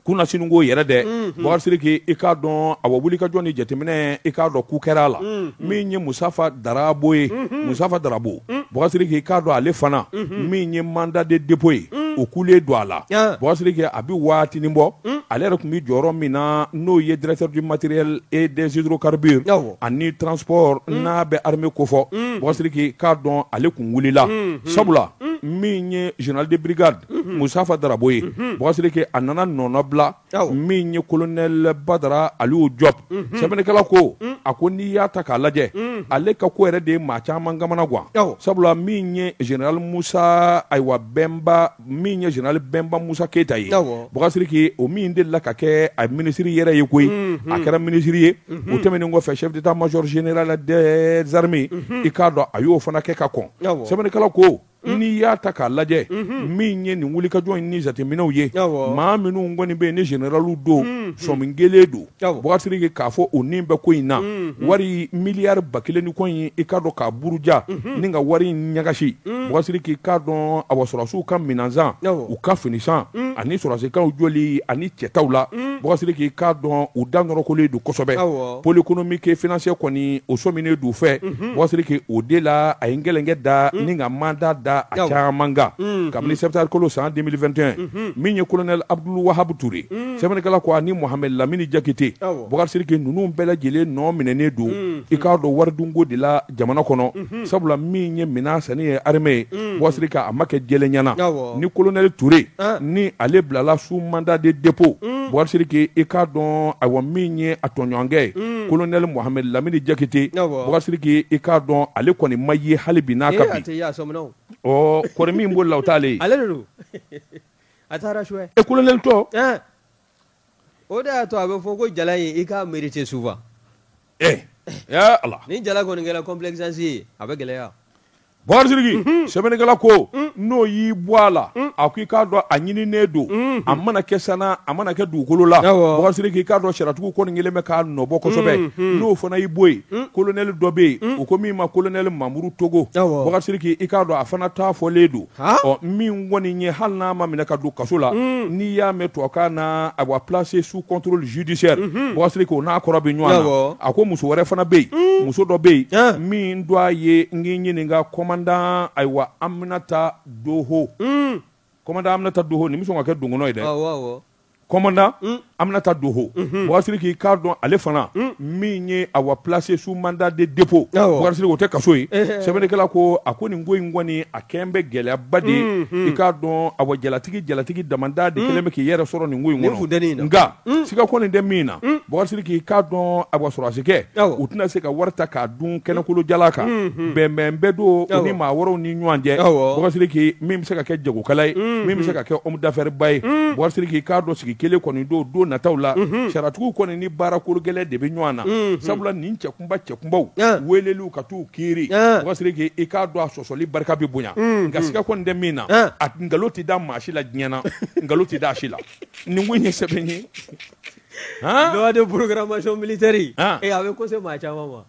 kunasinikɔ yɛrɛ dɛ bakari sidiki i k'a dɔn awa wulikajɔ ni jateminɛ i k'a dɔn k'u kɛra a la min ye musafa darabo ye musafa darabo bakari sidiki i k'a dɔn ale fana min ye mandat de dépôt ye o kulen don a la Yan. bakari sidiki a bɛ waatinin bɔ ale yɛrɛ tun bɛ jɔyɔrɔ min na n'o ye directeur du matériel et des hydrocarbures Awɔ. ani transport n'a bɛ armée kofɔ bakari sidiki k'a dɔn ale kun wulila sabula min ye général de brigade musafa darabo ye bɔgasiriki a nana nɔnɔbila min ye colonel Badara Aliou Diop sɛbɛnnikɛla ko a ko n'i y'a ta k'a lajɛ ale ka ko yɛrɛ de ye maa caman kamana gan sabula min ye général musa ayiwa bɛnba min ye général bɛnba musa keyita ye bɔgasiriki o min delila ka kɛ a minisiri yɛrɛ ye koyi a kɛra minisiri ye o tɛmɛnen kɔfɛ chef d'état-major général des armées i k'a dɔn a y'o fana kɛ ka kɔn sɛbɛnnikɛla ko Mm. n'i y'a ta k'a lajɛ mm-hmm. min ye nin wulikajɔ in ni jateminɛw ye maa minnu kɔni bɛ yen ni generaliw don mm-hmm. sɔmingelen don bɔgasiriki k'a fɔ u nin bɛ ko in na mm-hmm. wari miliyari ba kelen ni kɔ in i k'a dɔn k'a buruja ni ka wari in ɲagasi mm. bɔgasiriki k'a dɔn awa sɔrɔdasiw ka minɛnsan u ka finisan mm. ani sɔrɔdasi kanw jɔli ani cɛtaw la bɔgasiriki k'a dɔn u da nɔrɔkolen don kosɛbɛ pôle économique et financier kɔni o sɔminen d'u fɛ bɔgasiriki o de la a ye gɛlɛnkɛ da ni ka mandat da a caman kan kabini septembre kalo san 2021 min ye colonel Abdoul Wahab Touré sɛbɛnnikɛla ko ani Mohamed lamini jakite bɔgasiriki ninnu bɛɛ lajɛlen nɔ minɛnen don i k'a dɔn waridunko de la jamana kɔnɔ sabula min ye minɛn sanni ye armée ye bɔgasiriki a ma kɛ jɛlenya na ni colonel Touré ni ale bilala sous mandat de dépôt bɔgasiriki i k'a dɔn awa min ye a tɔɲɔgɔnkɛ ye colonel Mohamed lamini jakite bɔgasiriki i k'a dɔn ale kɔni ma ye hali bi n'a ka bi kɔri min b'o la o t'ale ye colonel tɔ o de y'a to a bɛ fɔ ko jala in i k'a mérité souvent ee ya Allah ni jala kɔni kɛra complaisance ye a bɛ gɛlɛya Bakari Sidiki mhm. sɛbɛnnikɛla ko mhm. n'o y'i bɔ a la mhm. a ko i k'a dɔn a ɲininen don a mana kɛ san na a mana kɛ dugukolo la Bakari Sidiki i k'a dɔn sariyatigiw kɔni kɛlen bɛ k'a nɔbɔ kosɛbɛ n'o fana y'i bɔ yen kolonɛli dɔ bɛ yen o ko min ma kolonɛli Mamuru Togo Bakari Sidiki i k'a dɔn a fana ta fɔlen don ɔ min kɔni ye hali n'a ma minɛ ka don kaso la mm. n'i y'a mɛn tubabukan na a wa placé sous contrôle judiciaire mm-hmm. Bakari Sidiki o n'a kɔrɔ bɛ ɲɔgɔn na a ko muso wɛrɛ fana bɛ yen mm. muso dɔ bɛ yen min do a ye n k'i ɲininka kɔmandan ayiwa Aminata Doho mm. kɔmandan Aminata Doho nin bɛ sɔn ka kɛ dɔgɔnɔ ye dɛ kɔmandan Aminata Doho Bakari Sidiki k'a dɔn ale fana min ye a wa placé sous mandat de dépôt Bakari Sidiki o tɛ kaso ye sɛbɛnnikɛla ko a ko nin ko in kɔni a kɛlen bɛ gɛlɛyaba de ye i k'a dɔn a wa jalatigi jalatigi damadɔ de kɛlen bɛ k'i yɛrɛ sɔrɔ nin ko in kɔnɔ nka siga kɔni tɛ min na Bakari Sidiki k'a dɔn a wa sɔrɔdasikɛ u tɛna se ka wari ta k'a dun kɛnɛ kolo jalan kan bɛnbɛn bɛ don u ni maa wɛrɛw ɲɔgɔn cɛ Boubacar Sidiki min bɛ se ka kɛ jagokɛla ye min bɛ se ka kɛ homme d'affaires ba ye Boubacar Sidiki k'a dɔn sigi kelen kɔni don don nataw la sariyatigiw kɔni ni baara kologɛlɛn de bɛ ɲɔgɔn na sabula nin cɛkunba cɛkunbaw weeleliw ka t'u kiiri Boubacar Sidiki i k'a dɔn a sɔsɔli barika bɛ bonya nka siga kɔni tɛ min na a nkalon tɛ da maa si la diɲɛ na nkalon tɛ da a si la nin ko in ye sɛbɛ ye loi de programmation militaire ee a bɛ ka se maa caman ma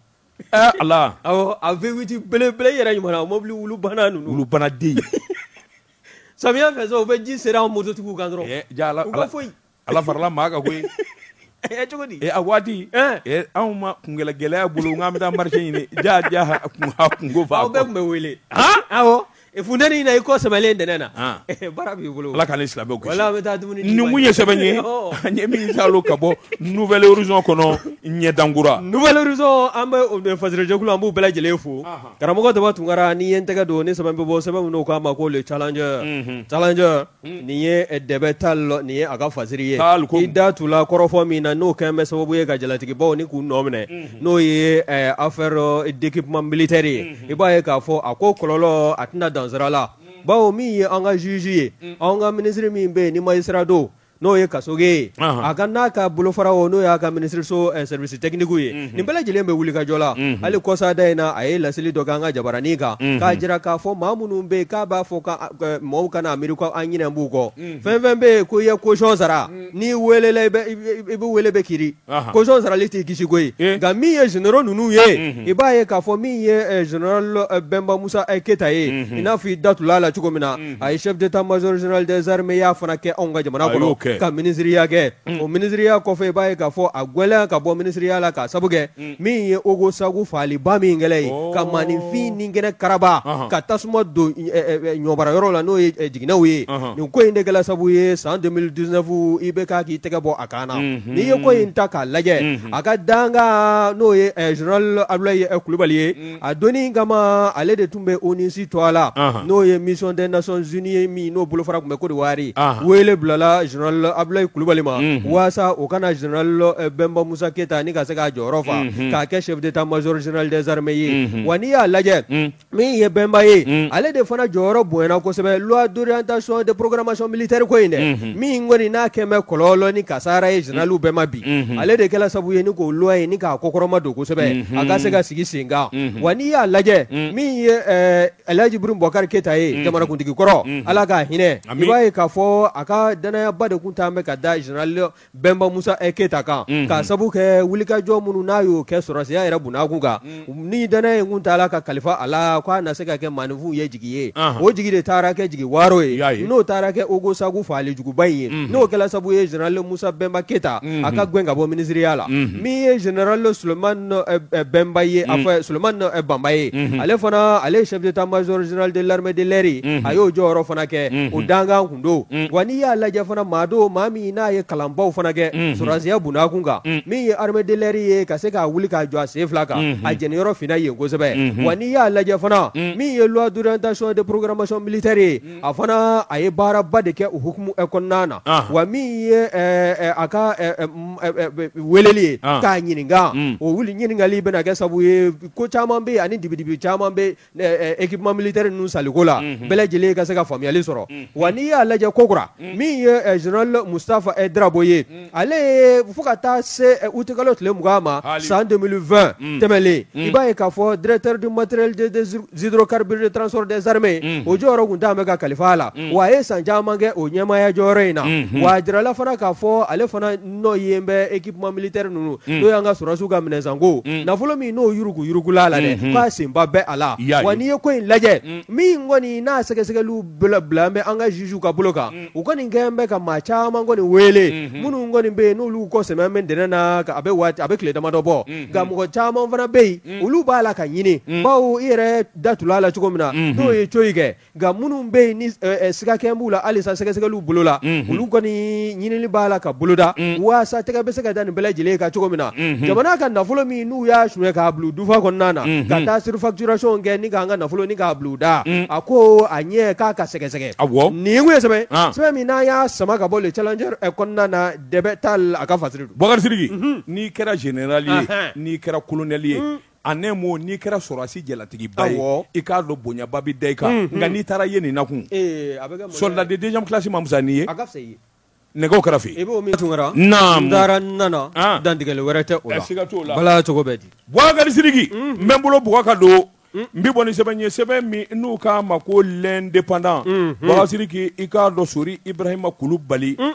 a V8 belebele yɛrɛ ɲuman mɔbili wulu bana ninnu wulu bana den samiya fɛ so u bɛ ji seri an mototigiw kan dɔrɔn u ka foyi ala farala maa kan koyi cogodi a waati anw ma kungɛlɛ gɛlɛya bolo n k'an bɛ taa marché ɲini ja jaa kungo fa aw bɛɛ tun bɛ wele Funteni in na i kɔ sɛmɛlen dɛnɛn na bara b'i bolo ala ka ni silamɛ bɛ taa dumuni nin kun ye sɛbɛn ye an ye min ta ka bɔ Nouvel Horizon kɔnɔ ɲɛdankura Nouvel Horizon an bɛ fasirijɛkulu an b'u bɛɛ lajɛlen fo karamɔgɔ Daba Tunkara ni ye n tɛgɛ don ni sɛbɛn bɛ bɔ sɛbɛn min u k'a ma ko Le Challenger Challenger Nin ye dɛbɛ ta la nin ye a ka fasiri ye i da tun la kɔrɔfɔ min na n'o kɛlen bɛ sababu ye ka jalatigibaw ni k'u nɔ minɛ n'o ye affaire d'équipement militaire ye i b'a ye k'a fɔ a ko kɔlɔlɔ a tɛna dan sira la bawo min ye an ka juge ye an ka minisiri min bɛ yen ni magistrat don n'o ye Kasoge ye a ka n'a ka bolofara o n'o y'a ka minisiriso service techniquew ye nin bɛɛ lajɛlen bɛ wulikajɔ la hali kɔsada in na a ye laseli dɔ kɛ an ka jabaranin kan k'a jira k'a fɔ maa minnu bɛ yen k'a b'a fɔ Mɔgɔw kana miiri ko an ɲinɛ b'u kɔ fɛn fɛn bɛ yen ko i ye caution sara n'i weelela i bɛ weele bɛ kiiri caution sarali t'i kisi koyi nka min ye généraux ninnu ye i b'a ye k'a fɔ min ye général bɛnba musa keyita ye i n'a fɔ i da tula a la cogo min na a ye chef d'état-major général des armées ya fana kɛ anw ka jamana kɔnɔ ka minisiriya kɛ o minisiriya kɔfɛ i b'a ye k'a fɔ a gɛnnen ye ka bɔ minisiriya la k'a sabu min ye ogosagu faaliba min kɛlen ye ka maaninfin ni kɛnɛ karaba ka tasuma don ɲɔmarayɔrɔ la n'o ye jiginɛw ye nin ko in de kɛla sabu ye san deux mille dix-neuf IBK k'i tɛgɛ bɔ a kan na n'i ye ko in ta k'a lajɛ a ka dankan n'o ye général abudulayi kulubali ye a don kama ale de tun bɛ u nisi to a la n'o ye mic tɛ naon z ye min n'o bolofa tun bɛ ko wari wele bilala abuyi kulubali ma walasa o kana z bɛnba musa keyita ani ka se k'a jɔyɔrɔ faga k'a kɛ sɛti taa maz zdrizrime ye wa n'i y'a lajɛ min ye bɛnba ye ale de fana jɔyɔrɔ bonyayana kosɛbɛ dta sɔn de porokarama sɔn malilitari ko in dɛ min kɔni n'a kɛlen bɛ kɔlɔlɔ ni kasara ye généraliw bɛɛ ma bi ale de kɛla sabu ye ni k'o loi ye ni k'a kɔkɔrɔma don kosɛbɛ a ka se ka sigi sen kan wa n'i y'a lajɛ min ye alaji ibrahim bubakari keyita ye jamanakuntigi kɔrɔ ala k'a hinɛ i b'a ye k'a fɔ a ka dannayaba de tun taalen bɛ ka da général bɛnba musa keyita kan k'a sabu kɛ wulikajɔ minnu n'a y'o kɛ sɔrɔsiya yɛrɛ bunna kun kan ni dannaya in kun taala ka kalifa a la k'a na se ka kɛ maaninfinw ye jigi ye o jigi de taara kɛ jigi waaro ye n'o taara kɛ ogosagu faali juguba in ye n'o kɛla sabu ye général musa bɛnba keyita a ka gɛn ka bɔ minisiriya la min ye général sulemani bɛnba ye a fɔ sulemani banba ye ale fana ale ye chef d'état-major général de l'armée de l'air a y'o jɔyɔrɔ fana kɛ o dankan don wa n'i y'a lajɛ fana maa don maa min n'a ye kalanbaw fana kɛ sɔrɔsiya bunna kun kan min ye armée de l'air ye ka se k'a wuli k'a jɔ a sen fila kan a jɛniyɔrɔ finna yen kosɛbɛ wa n'i y'a lajɛ fana min ye loi d'orientation de programmation militaire ye a fana a ye baaraba de kɛ o hukumu kɔnɔna na wa min ye a ka weleli ye k'a ɲininka o wuli ɲininkali bɛna kɛ sabu ye ko caman bɛ ani dibidibi caman bɛ équipement militaire ninnu sanniko la bɛɛ lajɛlen ka se ka faamuyali sɔrɔ wa n'i y'a lajɛ kokura min ye général mustafa drabo ye ale ye fo ka taa se uti kalo tile mugan ma san deux mille vingt tɛmɛlen i b'a ye k'a fɔ directeur du matériel des hydrocarbures et du transport des armées o jɔyɔrɔ tun taalen bɛ ka kalifa a la wa a ye san caman kɛ o ɲɛmaaya jɔyɔrɔ in na wa a jirala fana k'a fɔ ale fana nɔ ye bɛ équipement militaire ninnu n'o y'an ka sɔrɔsiw ka minɛnsanko nafolo min n'o yuruguyurugula la k'a senba bɛ a la wa n'i ye ko in lajɛ min kɔni n'a sɛgɛsɛgɛli bɛɛ bilalen bɛ an ka zuzuw ka bolo kan u kɔni kɛlen bɛ ka maa caman kɔni wele minnu kɔni bɛ yen n'olu kɔ sɛmɛ bɛ dɛnɛn na a bɛ waati a bɛ tile damadɔ bɔ nka mɔgɔ caman fana bɛ yen olu b'a la ka ɲini bawo i yɛrɛ da tula a la cogo min na n'o ye cogo kɛ nka minnu bɛ yen ni sigakɛ b'u la halisa sɛgɛsɛgɛliw bolo la olu kɔni ɲinini b'a la ka boloda walasa tɛgɛ bɛ se ka da nin bɛɛ lajɛlen kan cogo min na jamana ka nafolo min n'u y'a sonya k'a bil'u dufa kɔnɔna na ka taa surfacturation kɛ ni k'an ka nafolo ni k'a bil'u da a ko a ɲɛ k'a ka sɛgɛsɛgɛ nin kun ye sɛbɛn sɛbɛn min n'an y'a sama ka bɔ le challenger kɔnɔna na dɛbɛ t'a la a ka fasiri don Bubakari Sidiki n'i kɛra zenerali ye n'i kɛra kolonɛli ye a ɲɛmaa n'i kɛra sɔrɔdasi jalatigiba ye, awɔ, i k'a dɔn bonyaba bɛ da i kan, unhun, nka n'i taara yen nin nakun, ee, a bɛ kɛ, soldat de deuxième classe ma fisa n'i ye, a ka fisa i ye, nɛgɛw kɛrɛfɛ, i b'o min, n taara n taara n nana, an, dantigɛli wɛrɛ tɛ o la, siga t'o la, baara cogo bɛ di, Bubakari Sidiki, unhun, n bɛ n bolo bugɔ ka don, un, n bɛ bɔ ni sɛbɛn ye sɛbɛn min n'u k'a ma ko l'indépendant, unhun, Bubakari Sidiki i k'a dɔn Sori Ibrahima Kulubali, un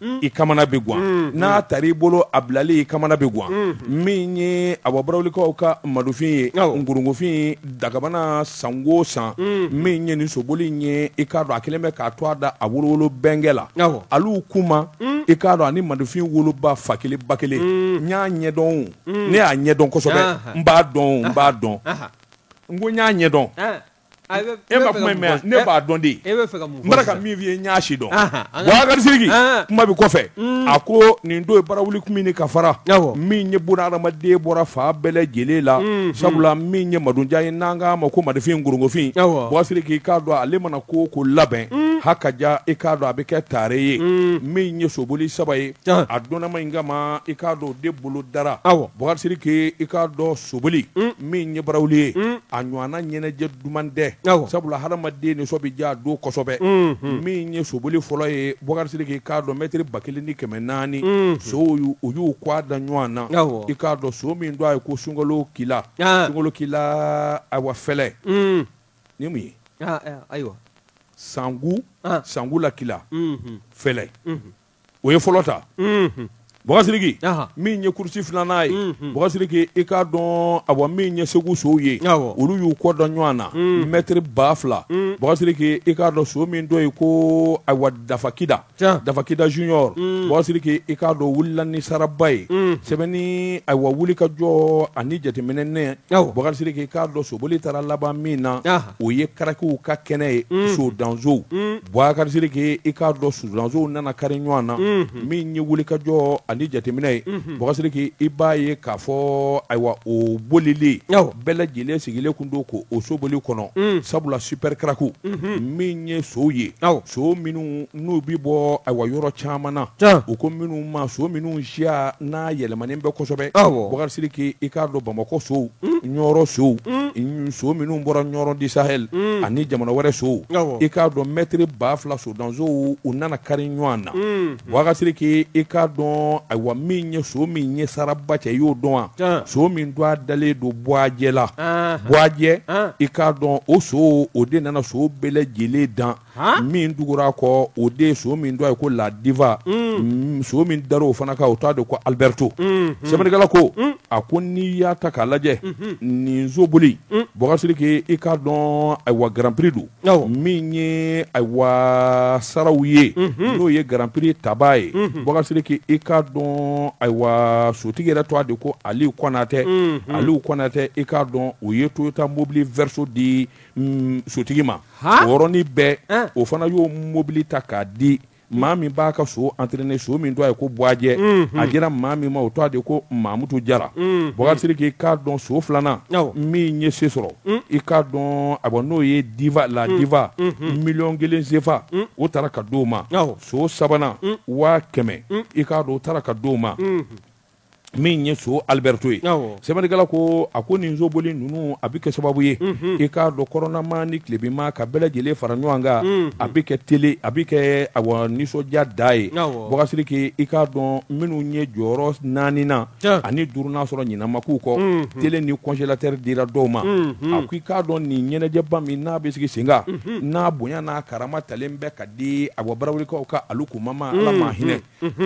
Mm. i kamana bɛ gan mm, mm. n'a tari i bolo a bilali i kamana bɛ gan min ye awa barawulikaw ka madufin ye ngorongofin dagabana san o san min ye nin soboli ye i k'a dɔn a kɛlen bɛ k'a tɔgɔ da a wolowolo bɛnkɛ la Alu Kuma i k'a dɔn ani madufin woloba fa kelen ba kelen n y'a ɲɛdɔn ne y'a ɲɛdɔn kosɛbɛ n b'a dɔn n b'a dɔn n ko n y'a ɲɛdɔn E ma kuma mɛn ne b'a dɔn de e bɛ fɛ ka mun ka min fɔ ye n y'a si dɔn Bubakari Sidiki kuma bɛ kɔfɛ a ko nin don ye barawuli komini ka fara min ye bon hadamaden bɔra fan bɛɛ lajɛlen la sabula min ye madujan ye n'an k'a ma ko madufin ngorongofin Bubakari Sidiki i k'a dɔn ale mana ko o ko labɛn ha ka ja i k'a dɔn a bɛ kɛ tare ye min ye soboli saba ye a dɔnnama in kama i k'a dɔn o de bolodara Bubakari Sidiki i k'a dɔn soboli min ye barawuli ye mm. a ɲɔgɔnna ɲɛnajɛ duman tɛ sabula hadamaden nisɔn bɛ diya a don kosɛbɛ mm, mm. min ye soboli fɔlɔ ye Bubakari Sidiki i k'a dɔn mɛtiri ba kelen ni kɛmɛ naani sow u y'u kɔgɔ da ɲɔgɔn na i k'a dɔn so min tɔgɔ ye ko sunkalo kila ah. sunkalo kila ayiwa fɛlɛ ni mun ye ah, eh, ayiwa sangu ah. sangu la kila mm-hmm. fɛlɛ mm-hmm. o ye fɔlɔ ta Bubakari Sidiki min ye kurusi filanan ye Bubakari Sidiki i k'a dɔn awa min ye segu sow ye olu y'u kɔgɔ da ɲɔgɔn na mɛtiri ba fila Bubakari Sidiki i k'a dɔn so min tɔgɔ ye ko awa dafa kida dafa kida junior Bubakari Sidiki i k'a dɔn wulila ni saraba ye sɛbɛnni awa wuli ka jɔ ani jateminɛ ne Bubakari Sidiki i k'a dɔn soboli taara laban min na o ye karakiw ka kɛnɛ ye sodansow Bubakari Sidiki i k'a dɔn sodansow nana kari ɲɔgɔn na min ye wuli ka jɔ ani jateminɛ ye Bubakari Sidiki i b'a ye k'a fɔ ayiwa o bolilen bɛɛ lajɛlen sigilen kun don ko o soboli kɔnɔ sabula supɛrikaraki min ye sow ye so minnu n'u bɛ bɔ ayiwa yɔrɔ caman na u ko minnu ma so minnu siya n'a yɛlɛma manen bɛ kosɛbɛ bɔgasiriki i k'a dɔn bamakɔ sow ɲɔrɔ sow so minnu bɔra ɲɔrɔ du sahel ani jamana wɛrɛ sow i k'a dɔn mɛtiri ba fila so dansow u nana kari ɲɔgɔn na bɔgasiriki i k'a dɔn ayiwa min ye so min ye saraba cɛ y'o dɔn wa so min tɔgɔ dalen don buwajɛ la buwajɛ i k'a dɔn o so o de nana so bɛɛ lajɛlen dan min tugura kɔ o de so min tɔgɔ ye ko la diva mm, so min dara o fana kan o tɔgɔ de ko alibɛrito mm-hmm. sɛbɛnnikɛla ko mm. a ko n'i y'a ta k'a lajɛ mm-hmm. nin soboli mm. bɔgasiriki i k'a dɔn ayiwa garanpiri don min ye ayiwa saraw ye mm-hmm. n'o ye garanpiri tabaa ye bɔgasiriki i k'a dɔn ayiwa sotigi yɛrɛ tɔgɔ de ko aliw kɔnatɛ aliw kɔnatɛ i k'a dɔn o ye toyota mobili vɛriso di mm, sotigi ma o yɔrɔnin bɛɛ o fana y'o mobili ta k'a di maa min b'a ka so entraîner so min tɔgɔ ye ko buwajɛ mhm. a dira maa min ma o tɔgɔ de ko mamutu jara mhm. bɔgasiriki i k'a dɔn so filanan min ye se sɔrɔ mhm. i k'a dɔn awa n'o ye diva la diva miliyɔn kelen sefa o taara ka d'o ma so sabanan waa kɛmɛ i k'a dɔn o taara ka d'o ma min ye so alibɛrito ye sɛbɛnnikɛla ko a ko nin soboli ninnu a bɛ kɛ sababu ye i k'a dɔn kɔrɔnnamaa ni tilebinmaa ka bɛɛ lajɛlen fara ɲɔgɔn kan a bɛ kɛ tele a bɛ kɛ awa nisɔndiya da ye bɔgasiriki i k'a dɔn minnu ye jɔyɔrɔ naaninan ani duurunan sɔrɔ ɲina ma k'u kɔ tele ni kɔnzelatɛri dira dɔw ma a ko i k'a dɔn nin ɲɛnajɛba min n'a bɛ sigi sen kan n'a bonya n'a karama talen bɛ ka di awa barawulikaw ka alu kuma ma ala ma hinɛ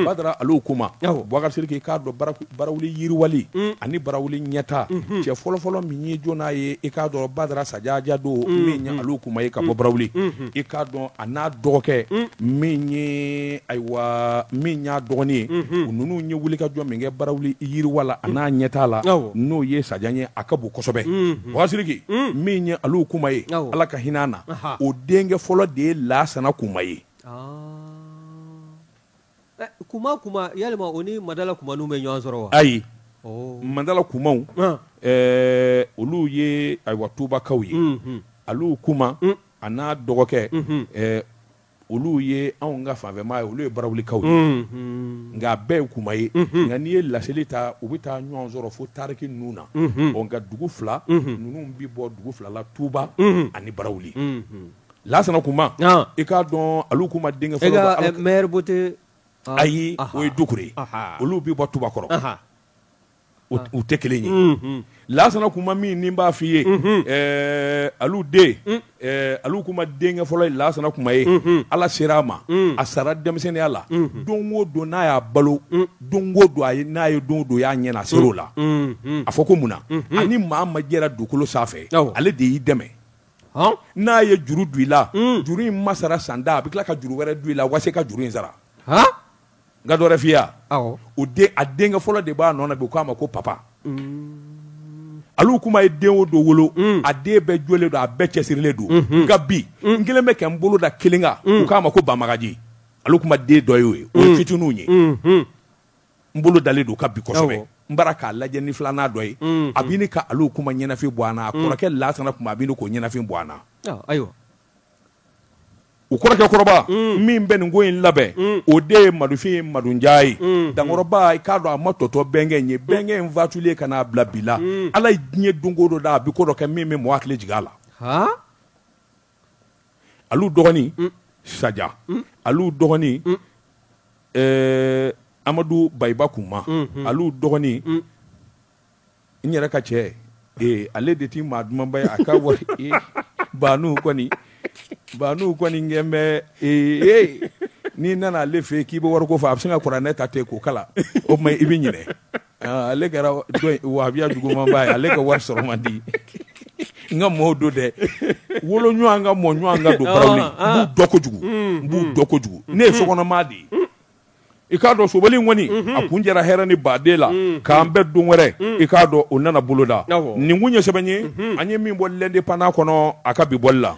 badara alu kuma bɔgasiriki i k'a dɔn barawuli yiriwali ani barawuli ɲɛtaa cɛ fɔlɔfɔlɔ min ye jɔn n'a ye i k'a dɔn badara sajajɛ don min ye alu kuma ye ka bɔ barawuli i k'a dɔn a n'a dɔgɔkɛ min ye ayiwa min y'a dɔgɔnin ye u ninnu ye wuli ka jɔ min kɛ barawuli yiriwa la a n'a ɲɛtaa la n'o ye sajan ye a ka bon kosɛbɛ bɔgasiriki min ye alu kuma ye ala ka hinɛ a na o denkɛ fɔlɔ de ye lasana kuma ye Kuma kuma yalima o ni madala kumanu bɛ ɲɔgɔn sɔrɔ wa ayi madala kumaw olu ye ayiwa tubakaw ye alu kuma a n'a dɔgɔkɛ olu ye anw ka fanfɛmaa ye olu ye barawulikaw ye nka a bɛɛ ye kuma ye nka n'i ye lasili ta u bɛ taa ɲɔgɔn sɔrɔ fo tariki ninnu na nka dugu fila ninnu bɛ bɔ dugu fila la tuba ani barawuli Lasana Kuma i k'a dɔn alu kuma denkɛ fɔlɔ ayi o ye dukure ye olu bɛ bɔ tubakɔrɔ u tɛ kelen ye lasana kuma min ni b'a f'i ye alu den alu kuma denkɛ fɔlɔ ye lasana kuma ye ala sera a ma a sara denmisɛnninya la don o don n'a y'a balo don o don a n'a ye don o don y'a ɲɛna a se o la a fɔ ko mun na ani maa ma jɛra dugukolo sanfɛ ale de y'i dɛmɛ n'a ye juru don i la juru in ma sara san da a bɛ tila ka juru wɛrɛ don i la wa se ka juru in sara n ka dɔ wɛrɛ f'i ye a denkɛ fɔlɔ de b'a nɔ na bi u k'a ma ko papa alu kuma ye den o den wolo a den bɛɛ jɔlen don a bɛɛ cɛsirilen don nka bi n kelen bɛ kɛ n bolo da kelen kan k'a ma ko bamagaji alu kuma den dɔ y'o ye o ye fitininw ye n bolo dalen d'o kan bi kosɛbɛ Awɔ. n bara k'a lajɛ ni filanan dɔ ye Mhm. a bini ka alu kuma ɲɛnafin bɔ an na a Mhm. kɔrɔkɛ lasana kuma a bini k'o ɲɛnafin bɔ an na Ɔ, ayiwa u kɔrɔkɛ kɔrɔba min bɛ nin ko in labɛn o de ye madufin ye madunja ye dankɔrɔba i k'a dɔn a ma tɔtɔ bɛnkɛ in ye bɛnkɛ in fatulen ka n'a bila bi la ala ye diɲɛ don ko dɔ da a bi ko dɔ kɛ min bɛ mɔgɔ hakili jigin a la alu dɔgɔnin mm. saja mm. alu dɔgɔnin mm. eh, amadu bayiba kuma mm -hmm. alu dɔgɔnin mm. n yɛrɛ ka cɛ eh, ale de ti maa dumanba ye a ka wari eh, baanu kɔni baanu kɔni kɛn bɛ eh, eh, n'i nana ale fɛ k'i bɛ wariko fɔ a bɛ sin ka kuranɛ ta ten k'o kalan o tuma i bɛ ɲinɛ Ah, ale kɛra wahabiya jugumanba ye ale ka wari sɔrɔ man di n ka mɔɔw don dɛ wolo ɲɔgɔn kan mɔ ɲɔgɔn kan don ah, barawuli ah. n b'u dɔn kojugu mm, n b'u mm. dɔn kojugu mm, ne ye sokɔnɔmaa de ye i k'a dɔn sobali in kɔni mm-hmm. a kuncɛra hɛrɛ ni baden ala k'an bɛn don wɛrɛ i k'a dɔn o nana boloda nin kun ye sɛbɛn ye mm-hmm. an ye min bɔ L'Indépendant kɔnɔ a ka bi bɔli la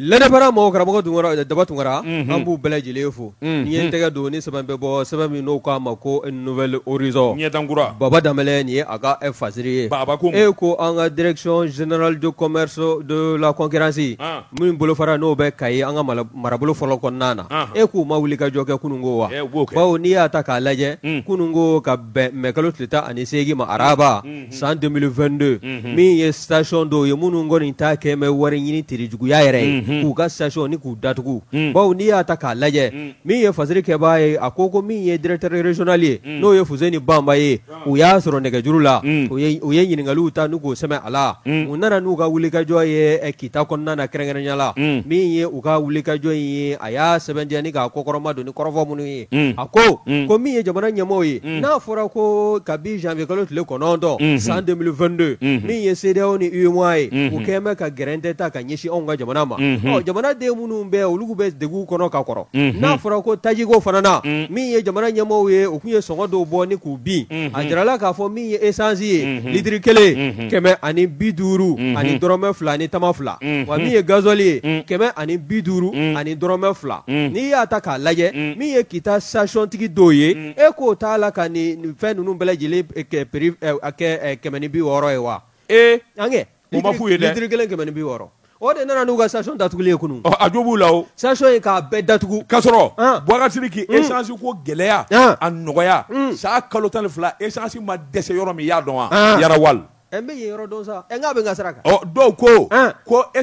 L'Indépendant mɔgɔ karamɔgɔ Tunkara Daba Tunkara, unhun, an b'u bɛɛ lajɛlen fo, unhun, n ye n tɛgɛ don ni sɛbɛn bɛ bɔ sɛbɛn min n'o k'a ma ko Nouvel Horizon ɲɛtan kura, Baba Danbɛlɛ nin ye a ka fasiri ye, Baba ko mun, e ko an ka direction générale du commerce de la concurrence, an, min bolofara n'o bɛ Kayi an ka marabolo fɔlɔ kɔnɔna na, anhan, e k'u ma wulikajɔ kɛ kununko wa, ee u b'o kɛ, bawo n'i y'a ta k'a lajɛ, un, kununko ka bɛn mɛkalo tile tan ani seegin ma araba, un san 2022 unhun, min ye station dɔw ye minnu kɔni ta kɛ bɛ wari ɲini terijuguya yɛrɛ ye unhun, k'u ka station ni k'u datugu un, bawo n'i y'a ta k'a lajɛ un, min ye fasiri kɛbaa ye a ko ko min ye directeur régional ye un, n'o ye Fuseni Bamba ye u y'a sɔrɔ nɛgɛjuru la un, u ye u ye ɲininkaliw ta n'u k'o sɛmɛ a la un, u nana n'u ka wulikajɔ ye eh, kita kɔnɔna na kɛrɛnkɛrɛnya la un. min ye u ka wulikajɔ in ye a y'a sɛbɛntiya ni k'a kɔkɔrɔma don ni kɔrɔfɔ minnu ye Unhun, a ko, unhun, ko min ye jamana ɲɛmɔgɔw ye, unhun, n'a fɔra ko kabi janvier kalo tile kɔnɔntɔn, unhun, san 2022, unhun, min ye CEDEAO ni UEMOA ye, unhun, u kɛlen bɛ ka gɛrɛntɛ ta ka ɲɛsin anw ka jamana ma, unhun, ɔ jamanaden minnu bɛ olu bɛ degun kɔnɔ ka kɔrɔ, unhun, n'a fɔra ko tajiko fana na, unhun, min ye jamana ɲɛmɔgɔw ye u tun ye sɔngɔ dɔw bɔ ni k'u bin, unhun, a jirala k'a fɔ min ye essence ye, unhun, litiri kelen, unhun, kɛmɛ ani bi duuru, unhun, ani dɔrɔmɛ fila ni tama fila, unhun, wa min ye gasoil ye, unhun, kɛmɛ ani bi duuru, unhun, ani dɔrɔmɛ fila. n'i y'a ta k'a lajɛ min ye Kita stationtigi dɔw ye e k'o t'a la ka nin fɛn ninnu bɛɛ lajɛlen kɛ kɛmɛ ni bi wɔɔrɔ ye wa ee an k'a f'u ye dɛ litiri kelen kɛmɛ ni bi wɔɔrɔ o de nana n'u ka station datuguli ye kunun a jo b'u la o station ye k'a bɛɛ datugu k'a sɔrɔ Boubacar Sidiki esansiko gɛlɛya a nɔgɔya sa kalo tan ni fila esansi ma dɛsɛ yɔrɔ min i y'a dɔn wa Yara Oil n bɛ yen yɔrɔ dɔn sa n k'a bɛ n ka sira kan dɔw ko ko e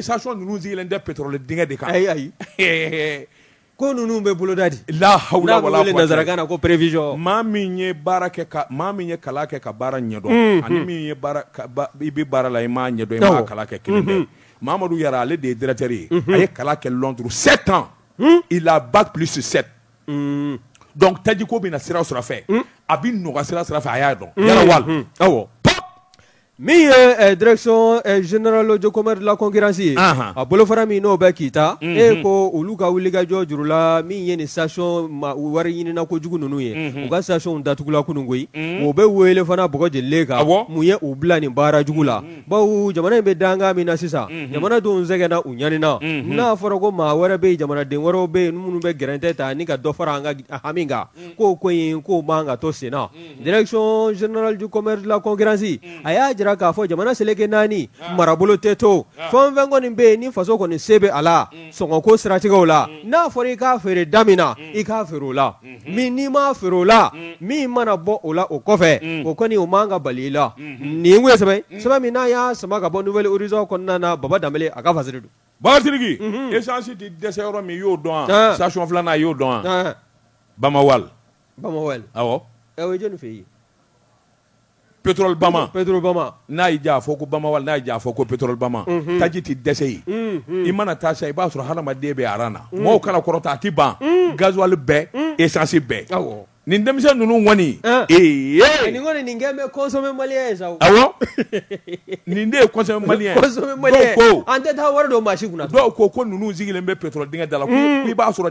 station ninnu sigilen tɛ pétrole dingɛ de kan ayi ayi ko ninnu bɛ boloda di laha na ko prévision maa min ye baara kɛ ka maa min ye kalan kɛ ka baara ɲɛdɔn ani min ye i bɛ baara la i m'a ɲɛdɔn i ma kalan kɛ kelen tɛ mamadu Yara ale de ye directeur ye a ye kalan kɛ Londres sept ans il a bac plus sept donc tajiko bɛ na sira sira fɛ a bɛ nɔgɔya sira sira fɛ a y'a dɔn wa Min ye direction générale du commerce de la concurrence ye a bolofara min n'o bɛ Kita e ko olu ka wulikajɔ juru la min ye nin station wariɲinina kojugu ninnu ye u ka station datugula kunun koyi u bɛ wele fana bɔgɔ jɛlen kan mun ye u bila nin baara jugu la bawo jamana in bɛ dankan min na sisan jamanadenw sɛgɛnna u ɲanina n'a fɔra ko maa wɛrɛ bɛ jamanaden wɛrɛ bɛ yen minnu bɛ gɛrɛntɛ ta ni ka dɔ fara an ka hami kan ko ko in k'o man kan ka to senna Direction générale du commerce de la concurrence a y'a jira k'a fɔ jamana seleke naani marabolo tɛ to fɛn o fɛn kɔni bɛ yen ni faso kɔni se bɛ a la sɔngɔko siratigɛw la n'a fɔra i k'a feere da min na i k'a feere o la mais n'i m'a feere o la min mana bɔ o la o kɔfɛ o kɔni o man kan ka bali i la nin tun ye sɛbɛn ye sɛbɛn min n'an y'a sama ka bɔ Nouvel Horizon kɔnɔna na Baba Danbele a ka fasiri don. Boubacar Sidiki essence tɛ dɛsɛ yɔrɔ min i y'o dɔn wa station filanan i y'o dɔn wa Bama Oil. Bama Oil awɔ o jɔnni fɛ yen Petro Bama Petro Bama n'a y'i diya a fɔ ko Bama Oil n'a y'i diya a fɔ ko Petro Bama taji tɛ dɛsɛ yen i mana taa sa i b'a sɔrɔ hadamaden bɛ aran na mɔgɔw kana kɔrɔtɔ a tɛ ban gazuwali bɛɛ esansi bɛɛ awɔ nin denmisɛn ninnu kɔni ee ye nin kɔni nin kɛlen bɛ consommer malien ye sa awɔ nin de ye consommer malien ko an tɛ taa wari don maa si kun dɔw ko ko ninnu sigilen bɛ pétrole dingɛ da la i b'a sɔrɔ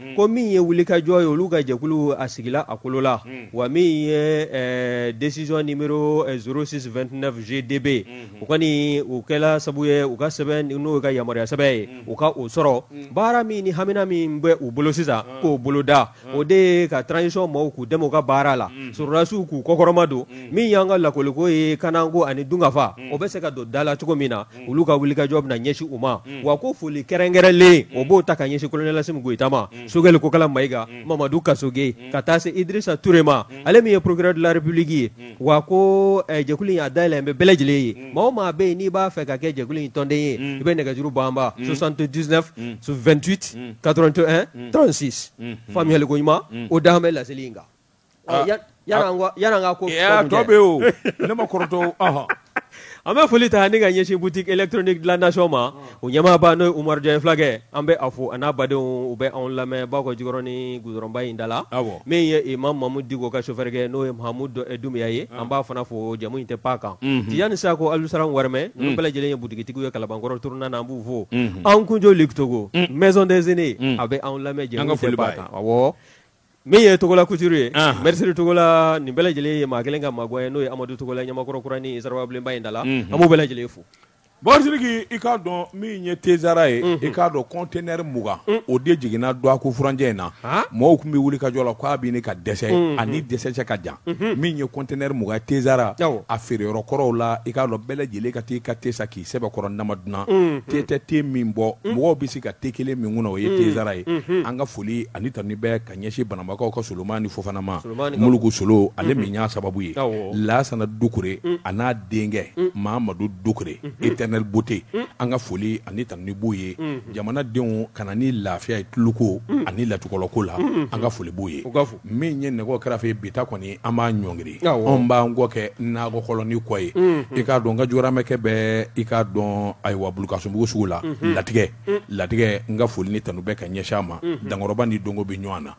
Hmm. ko min ye wulikajɔ ye olu ka jɛkulu a sigila a kolo la hmm. wa min ye eh, décision numéro 0629 eh, GDB hmm. u kɔni u kɛla sabu ye u ka sɛbɛn n'o ka yamaruya sɛbɛn ye u ka o sɔrɔ baara min ni hamina min bɛ u bolo sisan k'o boloda o de ye ka transition maaw k'u dɛmɛ u ka baara la sɔrɔdasiw k'u kɔkɔrɔmadon min y'an ka lakoliko ye kanako ani dunkafa o bɛ se ka don da la cogo min na olu ka wulikajɔ bɛna ɲɛsin u ma wa ko foli kɛrɛnkɛrɛnlen u b'o ta ka ɲɛsin colonel Assimi Goïta ma Choguel Kokalla Maïga Mamadou Kassogué ka taa se Idrissa Touré ma ale min ye procureur de la République ye wa ko eh, jɛkulu in a dayɛlɛn bɛ bɛɛ lajɛlen ye maa o maa bɛ yen n'i b'a fɛ ka kɛ jɛkulu in tɔnden ye i bɛ nɛgɛjuru banba 79 28 81 36 faamuyali ko ɲuman o dan bɛ laseli in kan an bɛ foli ta ani ka ɲɛsin boutique électronique de la nation ma o ɲɛmaaba n'o ye Umaru Jan fulakɛ an bɛ a fo a n'a badenw u bɛ anw lamɛn Bakɔjikɔrɔni goudronba in da la min ye imam Mahmoud Dicko ka sofɛrɛkɛ n'o ye Mahamudu Dumbuya ye an b'a fana fo jamu in tɛ pan kan Tijani Sako Alisaran Wɛrɛmɛ nin bɛɛ lajɛlen ye butigitigiw ye Kalabankɔrɔ tournant na an b'u fo Ankoundio Luc Togo Maison des Aînés a bɛ anw lamɛn jamu in tɛ pan kan Min ye Togola couture ye anhan Mercerie Togola nin bɛɛ lajɛlen ye maa 1 ka maŋuwa ye n'o ye Amadou Togola ye Ɲamakɔrɔ Kurani siraba bilenba in da la unhun an b'u bɛɛ lajɛlen fo bon Sidiki i k'a dɔn min ye Tezara ye unhun i k'a dɔn conteneur 20 un o de jiginna dɔɔkun furancɛ in na haa mɔɔw tun bɛ wulikajɔ la k'a bɛ ɲini ka dɛsɛ unhun a ni dɛsɛ cɛ ka jan unhun min ye conteneur 20 ye Tezara awɔ a feereyɔrɔ kɔrɔw la i k'a dɔn bɛɛ lajɛlen ka t'i ka te san k'i sɛbɛkɔrɔ nama dunan te tɛ te min bɔ mɔgɔw bɛ se ka te kelen min kɔnɔ o ye Tezara ye an ka foli ani tanu bɛ ka ɲɛsin Banambakaw ka Solomani Fofana ma Muluku Solo ale min y'a sababu ye Lasana Dukure a n'a denkɛ Mahamadu Dukure Éternelle Beauté an ka foli ani tanu b'u ye jamanadenw kana ni lafiya ye tuluko ani latukɔlɔko la an ka foli b'u ye min ye nɛgɛ kɛrɛfɛ ye bi ta kɔni an b'a ɲɔngiri anw b'an kɔ kɛ nakɔ kɔlɔnnin kɔ ye i k'a dɔn n ka jɔgɔramɛkɛ bɛ i k'a dɔn ayiwa Bulukasumbugu sugu la latigɛ latigɛ n ka foli ni tanu bɛ ka ɲɛsin a ma Dankɔrɔba ni Dongo bɛ ɲɔgɔn na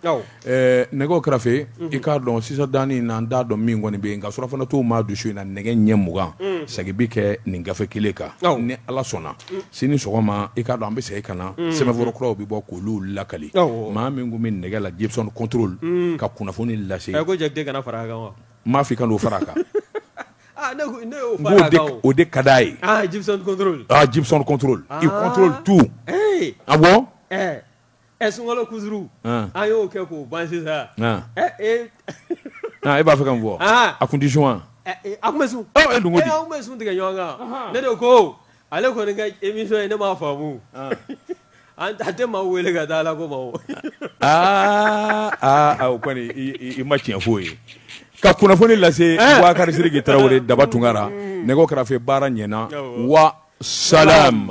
nɛgɛ kɛrɛfɛ i k'a dɔn sisan dani na n t'a dɔn min kɔni bɛ yen nka surafana t'o maa dusu in na nɛgɛ ɲɛ mugan segin bɛ kɛ nin gafe kelen kan ni Ala sɔnna sini sɔgɔma i k'a dɔn an bɛ segin ka na sɛbɛnfura kuraw bɛ bɔ k'olu lakali maa min tun bɛ nɛgɛ la Djibson contrôle ka kunnafoni lase n m'a fɔ i kan'o fara a kan n ko o de ka di a ye Djibson contrôle il contrôle tout awɔ. Ɛ sunkalo kusuru an y'o kɛ k'o ban sisan e b'a fɛ k'a fɔ a kun tɛ sun wa a tun bɛ sun tun bɛ sun tigɛ ɲɔgɔn kan ne de ko ale kɔni emisiyɔn ye ne m'a faamu a tɛ maa wele ka taa ala ko aa o kɔni i ma tiɲɛ foyi ye ka kunnafoni lase bubakari sidiki tarawele daba tunkara nɛgɛw kɛrɛfɛ baara ɲɛna wa salam